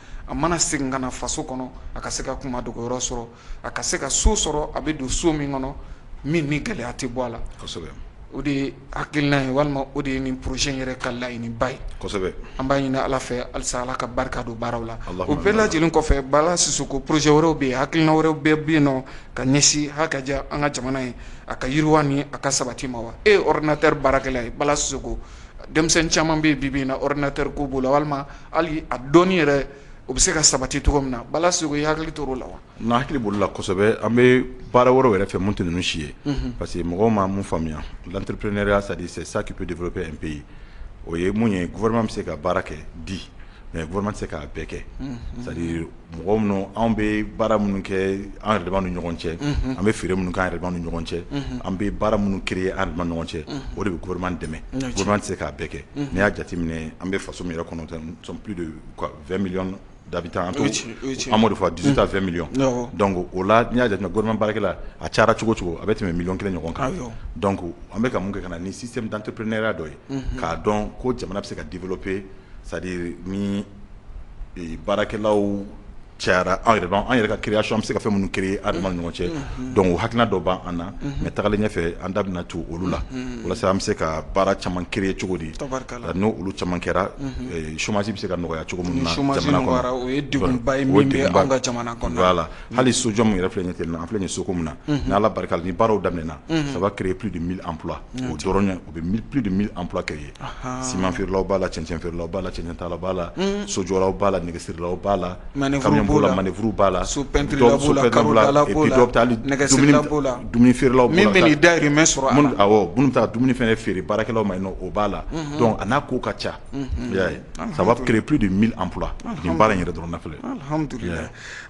a mana segin ka na faso kɔnɔ a ka se ka kunmadogoyɔrɔ sɔrɔ a ka se ka so sɔrɔ a bɛ don so min kɔnɔ min ni gɛlɛya tɛ bɔ a la o de ye hakilina ye walima o de ye nin projet yɛrɛ ka laɲini ba ye an b'a ɲini ala fɛ halisa ala ka barika don baaraw la o bɛɛ lajɛlen kɔfɛ bala sisoko projet wɛrɛw bɛ yen hakilina wɛrɛw bɛɛ bɛ yen nɔ ka ɲɛsin ha ka diya an ka jamana ye a ka yiriwa ni a ka sabati ma wa e ye ordinateur baarakɛla ye bala sisoko denmisɛnnin caman bɛ yen bi na ordinateur ko b'o la walima hali a dɔnni yɛrɛ o bɛ se ka sabati cogo min na bala sisoko i hakili t'o la wa n hakili b'o la kosɛbɛ an bɛ baara wɛrɛw yɛrɛ fɛ mun tɛ ninnu si ye parce que mɔgɔ ma mun faamuya l'entrepreneuriat c'est-à-dire c'est ça qui peut développer un pays o ye mun ye gouvernement bɛ se ka baara kɛ di mais gouvernement tɛ se k'a bɛɛ kɛ sa mɔgɔ minnu anw bɛ baara minnu kɛ an yɛrɛ damaw ni ɲɔgɔn cɛ an bɛ feere minnu kɛ an yɛrɛ damaw ni ɲɔgɔn cɛ an bɛ baara minnu créer an yɛrɛ damaw ni ɲɔgɔn cɛ o de bɛ gouvernement dɛmɛ gouvernement tɛ se k'a bɛɛ kɛ n'i y'a jateminɛ an bɛ faso min yɛrɛ kɔnɔ tan nous sommes plus de 20 millions d'habitants an b'o de fɔ 18 à 20 millions donc o la n'i y'a jateminɛ gouvernement baarakɛla a cayara cogo o cogo a bɛ tɛmɛ miliyɔn kelen ɲɔgɔn kan donc an bɛ ka mun kɛ ka na ni système d'entrepreneuriat dɔ ye k'a dɔn ko jamana bɛ se ka développer c'est à dire ni baarakɛlaw cayara anw yɛrɛ an yɛrɛ ka création an bɛ se ka fɛn minnu créer an dama ni ɲɔgɔn cɛ donc o hakilina dɔ b' an na mais tagalen ɲɛfɛ an da bɛna to olu la walasa an bɛ se ka baara caman créer cogo di n' olu caman kɛra chômage bɛ se ka nɔgɔya cogo min na hali sojɔ min yɛrɛ filɛ ten an filɛ ye so min na n' ala barika la ni baaraw daminɛna ça va créer plus de 1000 emplois o dɔrɔn o bɛ plus de 1000 emplois créer siman feerelaw b'a la cɛncɛn feerela b'a la cɛncɛn tala b'a la sojɔlaw b'a la nɛgɛsirila b'a la b'o la manœuvre b'a la so peinture b'o la dumuni feerelaw bɛ dahirimɛ sɔrɔ minnu bɛ taa dumuni fana feere baarakɛlaw ma o b'a la donc a n'a ko ka ca ça va créer plus de 1000 emplois nin baara yɛrɛ dɔrɔn filɛ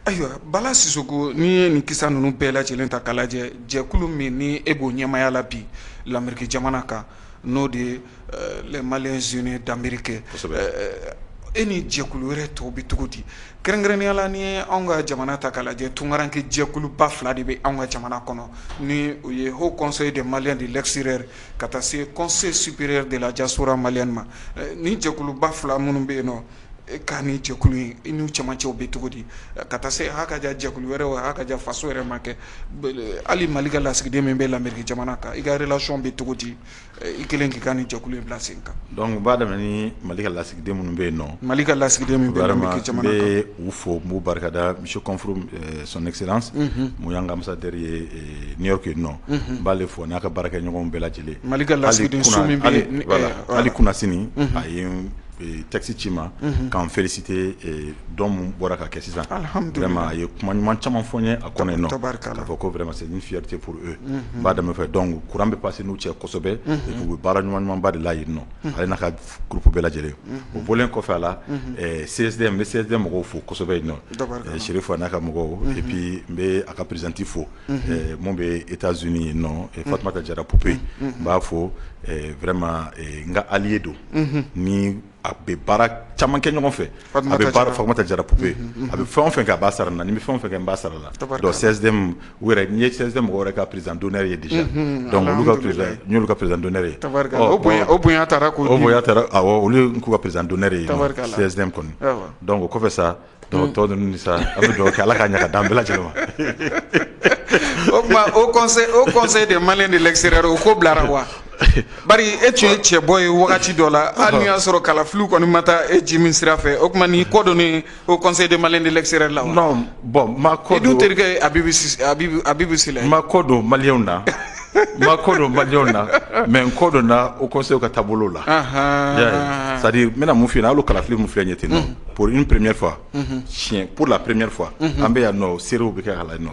Ayiwa Bala Sisoko n'i ye nin kisa ninnu bɛɛ lajɛlen ta k'a lajɛ jɛkulu min ni e b'o ɲɛmaaya la bi l'Amérique jamana kan n'o de ye les Maliens Unis d'Amérique e ni jɛkulu wɛrɛ tɔw bɛ cogo di kɛrɛnkɛrɛnnenya la n'i ye anw ka jamana ta k'a lajɛ tunkaranke jɛkuluba fila de bɛ anw ka jamana kɔnɔ ni o ye Haut Conseil des Maliens de l'Extérieur ka taa se Conseil Supérieur de la Diaspora Malienne ma ni jɛkuluba fila minnu bɛ yen nɔ Ka nin jɛkulu in i n'u cɛmancɛw bɛ cogo di ka taa se hakaja jɛkulu wɛrɛ wa hakaja faso yɛrɛ ma kɛ hali Mali ka lasigiden min bɛ l'Amérique jamana kan i ka relation bɛ cogo di i kɛlen k'i ka nin jɛkulu in bila sen kan donc n b'a daminɛ ni Mali ka lasigiden minnu bɛ yen nɔ Mali ka lasigiden min bɛ l'Amérique jamana kan vraiment n bɛ u fo n b'u barikada monsieur Kɔnfuru son excellence unhun min ye an ka ambassadeur ye New York yen nɔ unhun n b'ale fo a n'a ka baarakɛɲɔgɔnw bɛɛ lajɛlen Mali ka lasigidenso min bɛ yen hali kunasini a ye n texte ci ma ka n féliciter don min bɔra ka kɛ sisan vraiment a ye kuma ɲuman caman fɔ n ye a kɔnɔ yen nɔ, tabarikala, k'a fɔ ko vraiment c'est une fierté pour eux n b'a daminɛ u fɛ donc courant bɛ passer n'u cɛ kosɛbɛ et puis u bɛ baara ɲuman ɲumanba de la yen nɔ ale n'a ka groupe bɛɛ lajɛlen o bɔlen kɔfɛ a la CSDM n bɛ CSDM mɔgɔw fo kosɛbɛ yen nɔ, tabarikala, Serifu a n'a ka mɔgɔw et puis n bɛ a ka présidente fo minnu bɛ e taa zoni ye nɔ fa tun ka jara ppiye n b'a fɔ vma n ka ali ye don ni a bɛ baara caman kɛ ɲɔgɔn fɛ fa tɛ jara ppiye a bɛ fɛn fɛ k'a sara na ni bɛ fɛn fɛ n ba sara la sɛsɛn wɛrɛ n ye sɛ mɔgɔ wɛrɛ ka prizdoɛ ye di dɔnku ka pdɛ ye olu k'u ka pdɛ ye sɛsɛn kɔni dɔnku o kɔfɛ sa Tɔ tɔ ninnu sa an bɛ dugawu kɛ ala k'a ɲa ka d'an bɛɛ lajɛlen ma o tuma haut conseil haut conseil des maliens de l'extérieur o ko bilara wa bari e tun ye cɛbɔ ye wagati dɔ la hali n'o y'a sɔrɔ kalafiliw kɔni ma taa e ji min sira fɛ o tuma n'i kɔ donnen haut conseil des maliens de l'extérieur la wa non bon n ma kɔ don i dun terikɛ ye Abibu Sise Abibu Abibu Sila ye n ma kɔ don malienw na ma ko don balimaw na mɛ n ko dɔn na o kɔsew ka taabolo la sadi bɛna mun fi olu kalafili min filɛ ɲɛ ten p premeye fa si p la premeyri fɔ an bɛ yan nɔ seerew bɛ kɛ ka la nɔ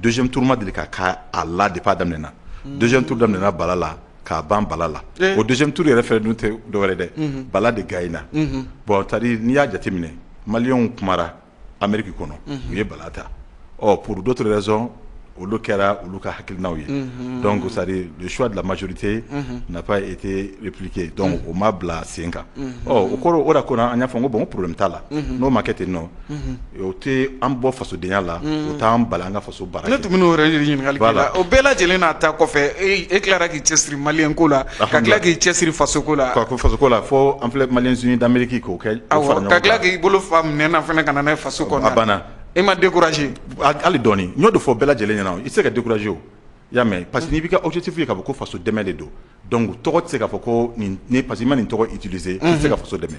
donso turuma deli ka ka a la de'a daminɛɛna donso tu damin bala la k'a ban bala la o donso tuuru yɛrɛ fɛ dun tɛ dɔwɛrɛ dɛ bala de gayina bɔn tari n'i y'a jateminɛ maliw kumara Amérique kɔnɔ u ye bala ta ɔ pour d'autres raisons olu kɛra olu ka hakilinaw ye donc c'est-à-dire le choix de la majorité n'a pas été appliqué donc o ma bila sen kan ɔ o kɔrɔ o de ko an y'a fɔ ko bon problème t'a la n'o ma kɛ ten nɔ o tɛ an bɔ fasodenya la o t'an bali an ka Ne tun bɛ o yɛrɛ ɲininkali la o bɛɛ lajɛlen n'a ta kɔfɛ e tilara k'i cɛ siri malien ko la ka tila k'i cɛ siri fasoko la fasoko la fo an filɛ maliens unis d'Amérique k'o kɛ ka tila k'i bolo fa minɛn na fana ka na n'a ye faso kɔnɔ banna e ma découragé hali dɔɔnin n y'o de fɔ bɛɛ lajɛlen ɲɛna i tɛ se ka découragé o y'a mɛn parce que n'i b'i ka objectif ye k'a fɔ ko faso dɛmɛ de don donc tɔgɔ tɛ se k'a fɔ ko parce que i ma nin tɔgɔ utiliser i tɛ se ka faso dɛmɛ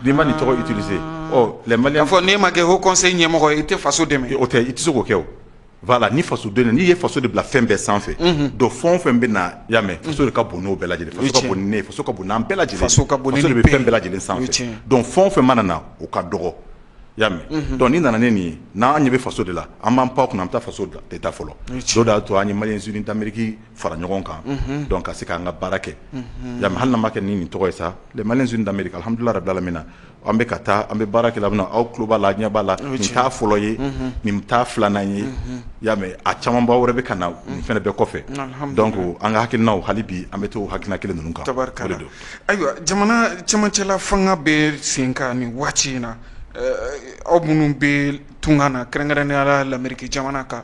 n'i ma nin tɔgɔ utiliser wala k'a fɔ n'i ma kɛ haut conseil ɲɛmɔgɔ ye i tɛ faso dɛmɛ o tɛ i tɛ se k'o kɛ voilà ni faso den n'i ye faso de bila fɛn bɛɛ sanfɛ donc fɛn o fɛn bɛ na y'a mɛn faso ka bon n'o bɛɛ lajɛlen faso ka bon ni ne ye faso ka bon n'an bɛɛ lajɛlen faso de bɛ fɛn bɛɛ lajɛlen sanfɛ donc fɛn o fɛn mana na o ka dɔgɔ y'a mɛn donc n'i nana ni nin ye n'an ɲɛ bɛ faso de la an b'an pan kunna an bɛ taa faso de ta fɔlɔ o de y'a to an ye maliens unis d'Amérique fara ɲɔgɔn kan donc ka se k'an ka baara kɛ y'a mɛn hali n'a ma kɛ ni nin tɔgɔ ye sa les maliens unis d'Amérique alihamidulila rabil alamina an bɛ ka taa an bɛ baara kɛ la aw tulo b'a la ɲɛ b'a la nin t'a fɔlɔ ye nin t'a filanan ye y'a mɛn a camanba wɛrɛ bɛ ka na nin fana bɛɛ kɔfɛ donc an ka hakilina hali bi an bɛ to hakilina kelen ninnu kan tabarikala ayiwa jamana cɛmancɛla fanga bɛ sen kan nin waati in na aw minnu bɛ tunkan na kɛrɛnkɛrɛnnenya la l'Amérique jamana kan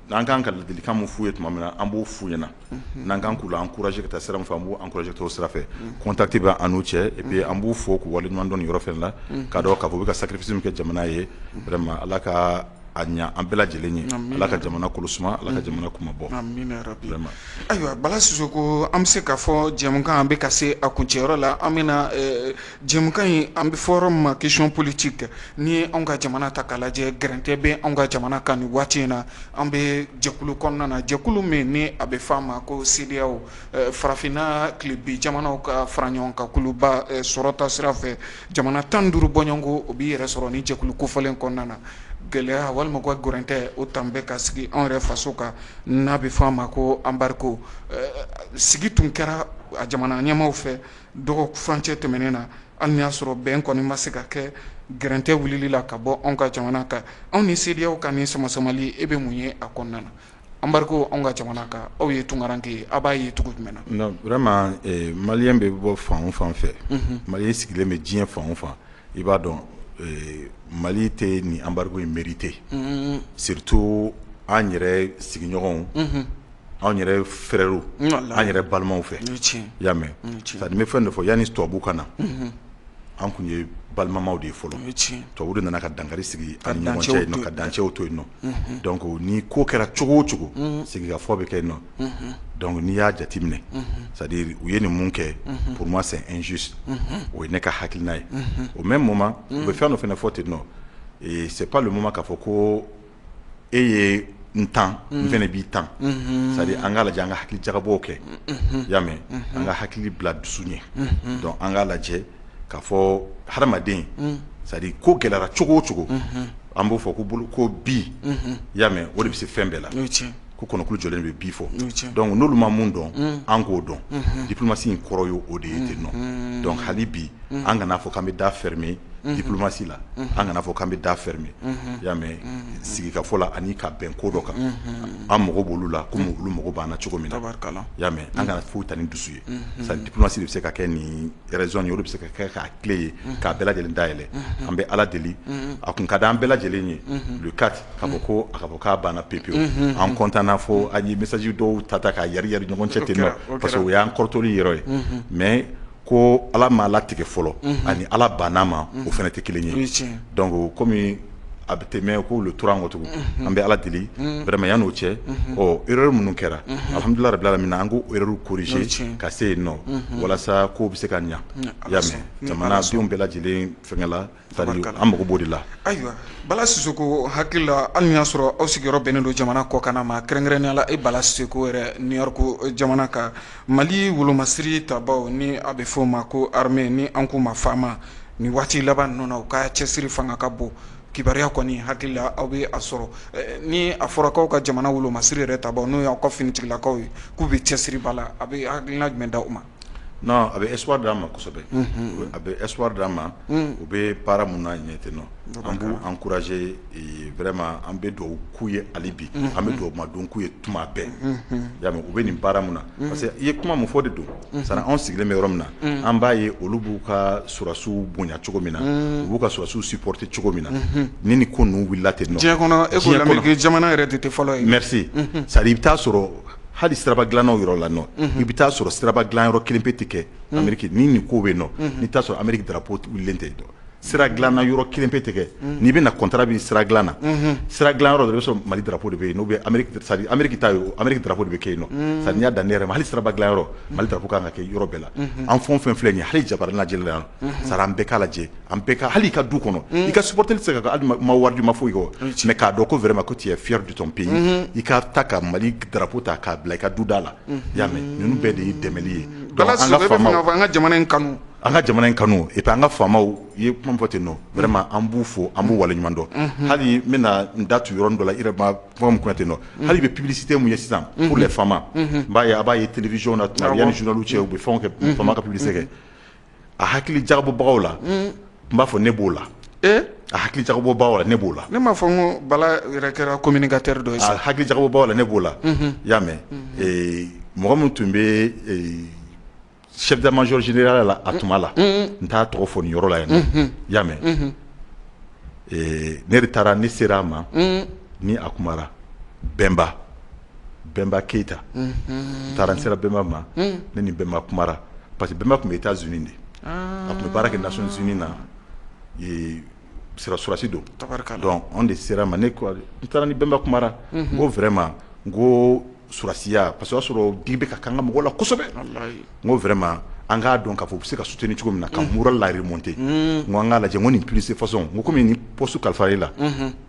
N'an kan ka ladilikan min f'u ye tuma min na an b'o f'u ɲɛna, unhun, n'an kan k'u la encourager ka taa sira min fɛ an b'u encourager ka t'o sira fɛ, unhun, contact bɛ an n'u cɛ et puis an b'u fo k'u waleɲuman dɔn nin yɔrɔ fana la, unhun, k'a dɔn k'a fɔ u bɛ ka sacrifice min kɛ jamana ye vraiment Ala ka a ɲɛ an bɛɛ lajɛlen ye, amina, Ala ka jamana kolo suma, Ala ka jamana kunmabɔ, amina yarabi, vraiment, ayiwa Bala Sisoko an bɛ se k'a fɔ jɛmukan a bɛ ka se a kuncɛyɔrɔ la an bɛna ɛ Jɛmukan in an bɛ fɔ yɔrɔ min ma question politique n'i ye anw ka jamana ta k'a lajɛ gɛrɛntɛ bɛ anw ka jamana kan nin waati in na an bɛ jɛkulu kɔnɔna na jɛkulu min ni a bɛ f'a ma ko CEDEAO farafinna tilebin jamanaw ka fara ɲɔgɔn kan kuluba sɔrɔta sira fɛ jamana 15 bɔɲɔgɔnko o b'i yɛrɛ sɔrɔ nin jɛkulu kofɔlen kɔnɔna na gɛlɛya walima u ka gɛrɛntɛ o tan bɛ ka sigi anw yɛrɛ faso kan n'a bɛ fɔ a ma ko embargo sigi tun kɛra a jamana ɲɛmaaw fɛ dɔgɔ furancɛ tɛmɛnen na hali n'i y'a sɔrɔ bɛn kɔni ma se ka kɛ gɛrɛntɛ wulili la ka bɔ anw ka jamana kan anw ni CEDEAO ka nin samasamali e bɛ mun ye a kɔnɔna na embargo anw ka jamana kan aw ye tungaranke ye aw b'a ye cogo jumɛn na non vraiment maliyɛn bɛ bɔ fan o fan fɛ maliyɛn sigilen bɛ diɲɛ fan o fan i b'a dɔn Mali tɛ nin embargo in mérité surtout an yɛrɛ sigiɲɔgɔnw anw yɛrɛ fɛrɛɛrɛw an yɛrɛ balimaw fɛ y'a mɛ ka bɛ fɛn de fɔ yanani tubabubu ka na an tun ye balimamaw de ye fɔlɔ tubabu de nana ka dangakari sigi ka dancɛw to yen nɔn ko ni ko kɛra cogo o cogo sigifɔ bɛ kɛ yen nɔ dɔnku n'i y'a jateminɛ sa u ye nin mun kɛ pma sansu o ye ne ka hakiina ye o mɛ mun ma u bɛ fɛn dɔ fana fɔ ten nɔ sep ma k'a fɔ ko e ye n tan n fɛnɛ b'i tan c'est à dire an k'a lajɛ an ka hakili jagabɔw kɛ i y'a mɛn an ka hakili bila dusu ɲɛ donc an k'a lajɛ k'a fɔ hadamaden c'est à dire ko gɛlɛyara cogo o cogo an b'o fɔ ko bolo ko bi i y'a mɛn o de bɛ se fɛn bɛɛ la ko kɔnɔkulu jɔlen bɛ bi fɔ donc n'olu ma mun dɔn an k'o dɔn diplomatie in kɔrɔ ye o de ye ten nɔ donc hali bi an kana fɔ k'an bɛ da fermer diplomatie la an kana fɔ k'an bɛ da fermer i y'a mɛn sigikafɔ la ani ka bɛn ko dɔ kan an mago b'olu la komi olu mago b'an na cogo min na i y'a mɛn an kana foyi ta ni dusu ye c'est à dire diplomatie de bɛ se ka kɛ nin Raison ye o le bɛ se ka kɛ k'a clé ye k'a bɛɛ lajɛlen dayɛlɛ an bɛ ala deli a kun ka di an bɛɛ lajɛlen ye le 4 k'a fɔ ko a ka fɔ k'a banna pepewu an kɔntanna fo an ye message dɔw ta ta k'a yariyari ɲɔgɔn cɛ ten nɔ parce que o y'an kɔrɔtɔli yɔrɔ ye mais ko ala m'a latigɛ fɔlɔ ani ala banna ma o fɛnɛ tɛ kelen ye donc kɔmi a bɛ tɛmɛ k'o le tora an kɔ tugun an bɛ ala deli vraiment yan'o cɛ erreur minnu kɛra alhamdulilayi rabbil alamina an k'o erreur corriger ka se yen nɔ walasa ko bɛ se ka ɲa i y'a mɛn jamanadenw bɛɛ lajɛlen fɛngɛ la an mago b'o de la ayiwa Bala Sisoko hakili la hali n'i y'a sɔrɔ aw sigiyɔrɔ bɛnnen don jamana kɔkan ma kɛrɛnkɛrɛnnenya la e Bala Sisoko yɛrɛ New York jamana kan Mali wolomasiri tabaaw ni a bɛ f'o ma ko armée ni an k'u ma fama ni waati laban ninnu na u ka cɛsiri fanga ka bon kibaruya kɔni hakili la aw bɛ a sɔrɔ ni a fɔra k'aw ka jamana wolomasiri yɛrɛ tabaaw n'o y'aw ka finitigilakaw ye k'u bɛ cɛsiriba la a bɛ hakilina jumɛn d'aw ma non a bɛ espoir d'an ma kosɛbɛ a bɛ espoir d'an ma u bɛ baara min na ɲɛ ten nɔ an b'u encourager vraiment an bɛ dugawu k'u ye hali bi, unhun, an bɛ dugawu madon k'u ye tuma bɛɛ, unhun, i y'a mɛn u bɛ nin baara min na, unhun, parce que i ye kuma min fɔ o de don, unhun, c'est à dire anw sigilen bɛ yɔrɔ min na, unhun, an b'a ye olu b'u ka sɔrɔdasiw bonya cogo min na, unhun, u b'u ka sɔrɔdasiw supporter cogo min na, unhun, ni nin ko ninnu wulila ten nɔ, diɲɛ kɔnɔ e ko Lamerikɛn jamana yɛrɛ de tɛ fɔlɔ ye, merci, unhun, c'est à dire i bɛ t'a sɔrɔ hali siraba dilannaw yɔrɔ la nɔ, unhun, i bɛ t'a sɔrɔ siraba dilanyɔrɔ kelen pe tɛ kɛ Ameriki ni nin ko bɛ yen nɔ, unhun, n'i t'a sɔrɔ Ameriki drapeau wulilen tɛ yen sira dilanna yɔrɔ kelen pe tɛ kɛ n'i bɛna contrat bɛ sira dilan na sira dilan yɔrɔ i b'a sɔrɔ Mali drapeau de bɛ yen n'o bɛ Ameriki ta ye Ameriki drapeau de bɛ kɛ yen nɔ sa n'i y'a dan ne yɛrɛ ma hali siraba dilan yɔrɔ Mali drapeau ka kan ka kɛ yɔrɔ bɛɛ la an fɛn o fɛn filɛ nin ye hali jabaranin lajɛli la yan c'est à dire an bɛɛ k'a lajɛ an bɛɛ ka hali i ka du kɔnɔ i ka soutenir tɛ se ka hali i ma wari di i ma foyi kɔ mais k'a dɔn ko vraiment ko tu es fier de ton pays i ka taa ka Mali drapeau ta k'a bila i ka du da la y'a mɛ ninnu bɛɛ de ye dɛmɛ ye an ka jamana in kanu An ka jamana in kanu et puis an ka faamaw i ye kuma min fɔ ten nɔ vraiment an b'u fo an b'u waleɲuman dɔn, unhun, hali n bɛna n da tu yɔrɔnin dɔ la i yɛrɛ ma kuma min fɔ ten nɔ hali bi publicité min ye sisan pour les famas n b'a ye a b'a ye television na tuma bɛɛ yanni journaux cɛ u bɛ fɛnw kɛ fama ka publicité kɛ a hakili jagabɔbagaw la n b'a fɔ ne b'o la, ee, a hakili jagabɔbagaw la ne b'o la, ne m'a fɔ ko Bala yɛrɛ kɛra communicateur dɔ ye sa, a hakili jagabɔbagaw la ne b'o la, unhun, i y'a mɛn, ee, mɔgɔ min tun bɛ ee chef d'état-major général la a tuma la n t'a tɔgɔ fɔ nin yɔrɔ la yan y'a mɛn ne de taara ne sera a ma ni a kumara bɛnba bɛnba keyita n taara n sera bɛnba ma ne ni bɛnba kumara parce que bɛnba tun bɛ États-Unis de a tun bɛ baara kɛ Nations Unies na sɔrɔdasi don donc anw de sera ma ne taara ni bɛnba kumara n ko vraiment n ko sɔrɔdasiya parce que o y'a sɔrɔ digi bɛ ka k'an ka mɔgɔw la kosɛbɛ, walahi, n ko vraiment an k'a dɔn k'a fɔ u bɛ se ka soutenir cogo min na ka moral la remonter n ko an k'a lajɛ n ko nin plus de façon n ko komi nin poste kalifara e la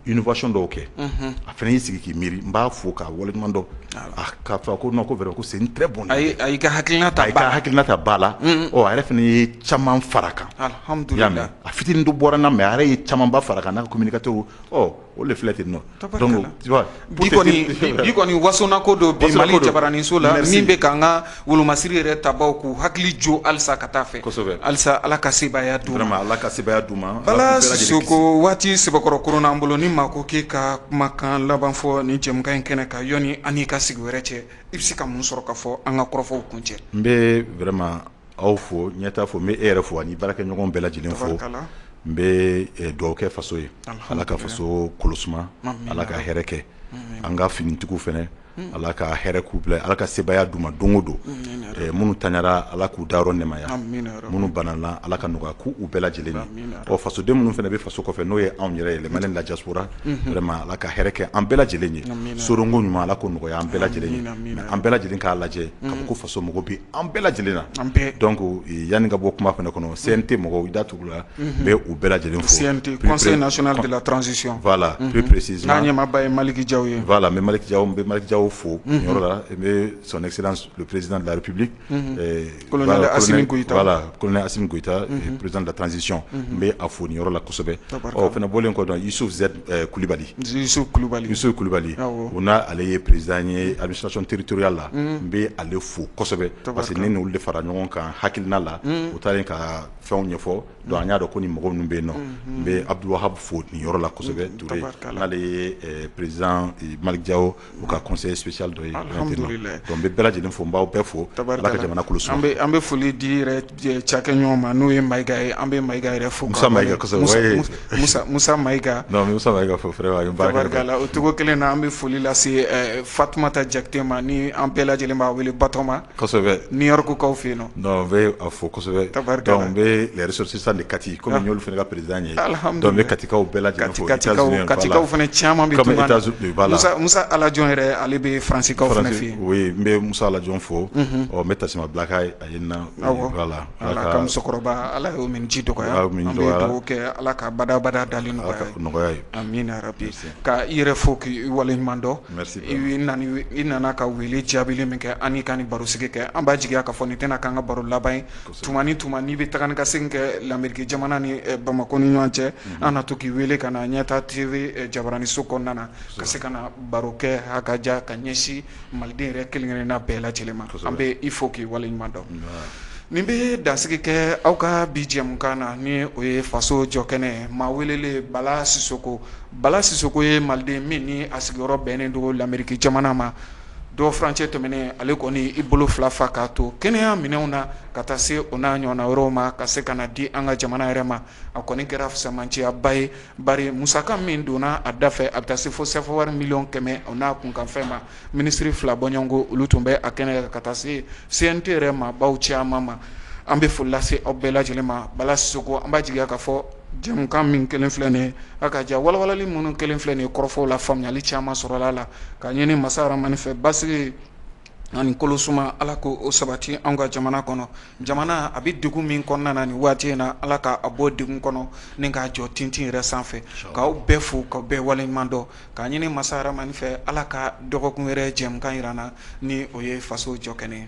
innovation dɔw kɛ a fana y'i sigi k'i miiri n b'a fo k'a waleɲuman dɔn k'a fɔ ko non ko vraiment ko c'est une très bonne idée a y'i ka hakilina ta ba la a y'i ka hakilina ta ba la ɔ a yɛrɛ fana ye caman fara a kan alihamudulila i y'a mɛn a fitinin dɔ bɔra n na mais a yɛrɛ ye camanba fara a kan n'a ka communicateurs ɔ O de filɛ ten nɔ donc tu vois bi kɔni wasona ko dɔ bi mali jabaraninso la min bɛ ka an ka wolomasiri yɛrɛ tabaw k'u hakili jo alisa ka taa fɛ alisa ala ka sebaaya d'u ma ala ka sebaaya d'u ma bala sisoko waati sɛbɛkɔrɔ koronan an bolo ni maa ko k'i ka kumakan laban fɔ nin jɛmukan in kɛnɛ kan yɔnni an n'i ka sigi wɛrɛ cɛ i bɛ se ka mun sɔrɔ k'a fɔ an ka kɔrɔfɔw kuncɛ n bɛ vraiment aw fo ɲɛtaa fo n bɛ e yɛrɛ fo ani baarakɛɲɔgɔn bɛɛ lajɛlen fo n bɛ dugawu kɛ faso ye ala ka faso kolo suma ala ka hɛrɛ kɛ an ka finitigiw fana ala ka hɛrɛ k'u bila ala ka sebaaya d'u ma don o don minnu taɲara ala k'u da yɔrɔ nɛmaya minnu banana ala ka nɔgɔya k'u bɛɛ lajɛlen na ɔ fasoden minnu fana bɛ faso kɔfɛ n'o ye anw yɛrɛ ye les Maliens de la diaspora vraiment ala ka hɛrɛ kɛ an bɛɛ lajɛlen ye soronko ɲuman ala k'o nɔgɔya an bɛɛ lajɛlen ye mais an bɛɛ lajɛlen k'a lajɛ k'a fɔ ko faso mago bɛ an bɛɛ lajɛlen na an dɔn ko yanni ka bɔ kuma fana kɔnɔ sen tɛ mɔgɔ da tugu la bɛ u bɛɛ lajɛlen fosisilasi la ppresi n'a ɲɛba ye maliki ja ye la mɛ maliki bɛ malijaw fo yɔrɔ la i bɛ sonɛsirieresi laripbi lasi gta perezd tanzsisi n bɛ a foni yɔrɔ la kosɛbɛ ɔ fana bɔlen kɔ dɔn i su kulubali kulubali u n'a ale ye perez ye a bɛ sasɔnon teriuruya la n bɛ ale fo parce que n' de fara ɲɔgɔn kan hakiina la u taara ka fɛnw ɲɛfɔ an y'a dɔn ko ni mɔgɔ min bɛ yen nɔ n bɛ abudu fo ni yɔrɔ la kosɛbɛ n'ale ye perez malijawo u ka kɔsɔn ye sucli dɔ ye dɔn bɛ bɛɛ lajɛlen fɔ n bawaw bɛɛ fo jamana an bɛ foli di cakɛ ɲɔgɔn ma n'o ye ma ye an bɛ maka yɛrɛ fo musa ma o cogo kelen na an bɛ foli lase fatuma ta jate ma ni an bɛɛ lajɛlen' wele batoma ni yɔrɔkukaw fɛ yen bɛ fɔ bɛ sɔrɔ sisan de kati kɔmi ɲɔo fana ka perez ye bɛ katikaw bɛɛ la katikaw fana caman musa alaj yɛrɛ ale bɛ farankaw fana fɛ yen n bɛ musa alaj fɔ ɔ n bɛ tasuma bila la ala musokɔrɔba ala min ji dɔgɔ kɛ ala ka badabada dalen nɔgɔya ka i yɛrɛ fɔ k' waleɲuman dɔn i nana ka weele jaabili min kɛ an ka nin barosigi kɛ an b'a jigiya k'a fɔ nin tɛna k'an ka baro laban ye tuma ni tuma n'i bɛ taa ni ka segin kɛ lameriki jamana ni bamakɔ ni ɲɔgɔn cɛ an na to k'i weele ka na ɲɛtaa TV jabaraninso kɔnɔna na ka se ka na baro kɛ hakaja ka ɲɛsin maliden yɛrɛ kelenkelenna bɛɛ lajɛlen ma an bɛ i fo k'i waleɲuman dɔn nin bɛ dansigi kɛ aw ka bi jɛmukan na ni o ye faso jɔ kɛnɛ maa welelen bala sisoko Bala Sisoko ye maliden min ni a sigiyɔrɔ bɛnnen don l'Amerique jamana ma don furancɛ tɛmɛnen ale kɔni i bolo fila fa k'a to kɛnɛya minɛnw na ka taa se o n'a ɲɔgɔnna wɛrɛw ma ka se ka na di an ka jamana yɛrɛ ma a kɔni kɛra fisamanciyaba ye bari musaka min donna a da fɛ a bɛ taa se fo sɛfawari miliyɔn kɛmɛ o n'a kunkanfɛn ma minisiri fila bɔɲɔgɔnko olu tun bɛ a kɛnɛ kan ka taa se CNT yɛrɛ maabaw caman ma an bɛ foli lase aw bɛɛ lajɛlen ma Bala Sisoko an b'a jigiya ka fɔ Jɛmukan min kɛlen filɛ nin ye a ka jan walawalali minnu kɛlen filɛ nin ye kɔrɔfɔw la faamuyali caman sɔrɔla a la ka ɲini masa Rahamani fɛ basigi ani kolosuma Ala ka o sabati an ka jamana kɔnɔ jamana a bɛ degun min kɔnɔna na nin waati in na Ala ka a bɔ degun kɔnɔ ni k'a jɔ tintin yɛrɛ sanfɛ k'aw bɛɛ fo k'aw bɛɛ waleɲuman dɔn k'a ɲini masa Rahamani fɛ Ala ka dɔgɔkun wɛrɛ jɛmukan yira an na ni o ye faso jɔkɛnɛ ye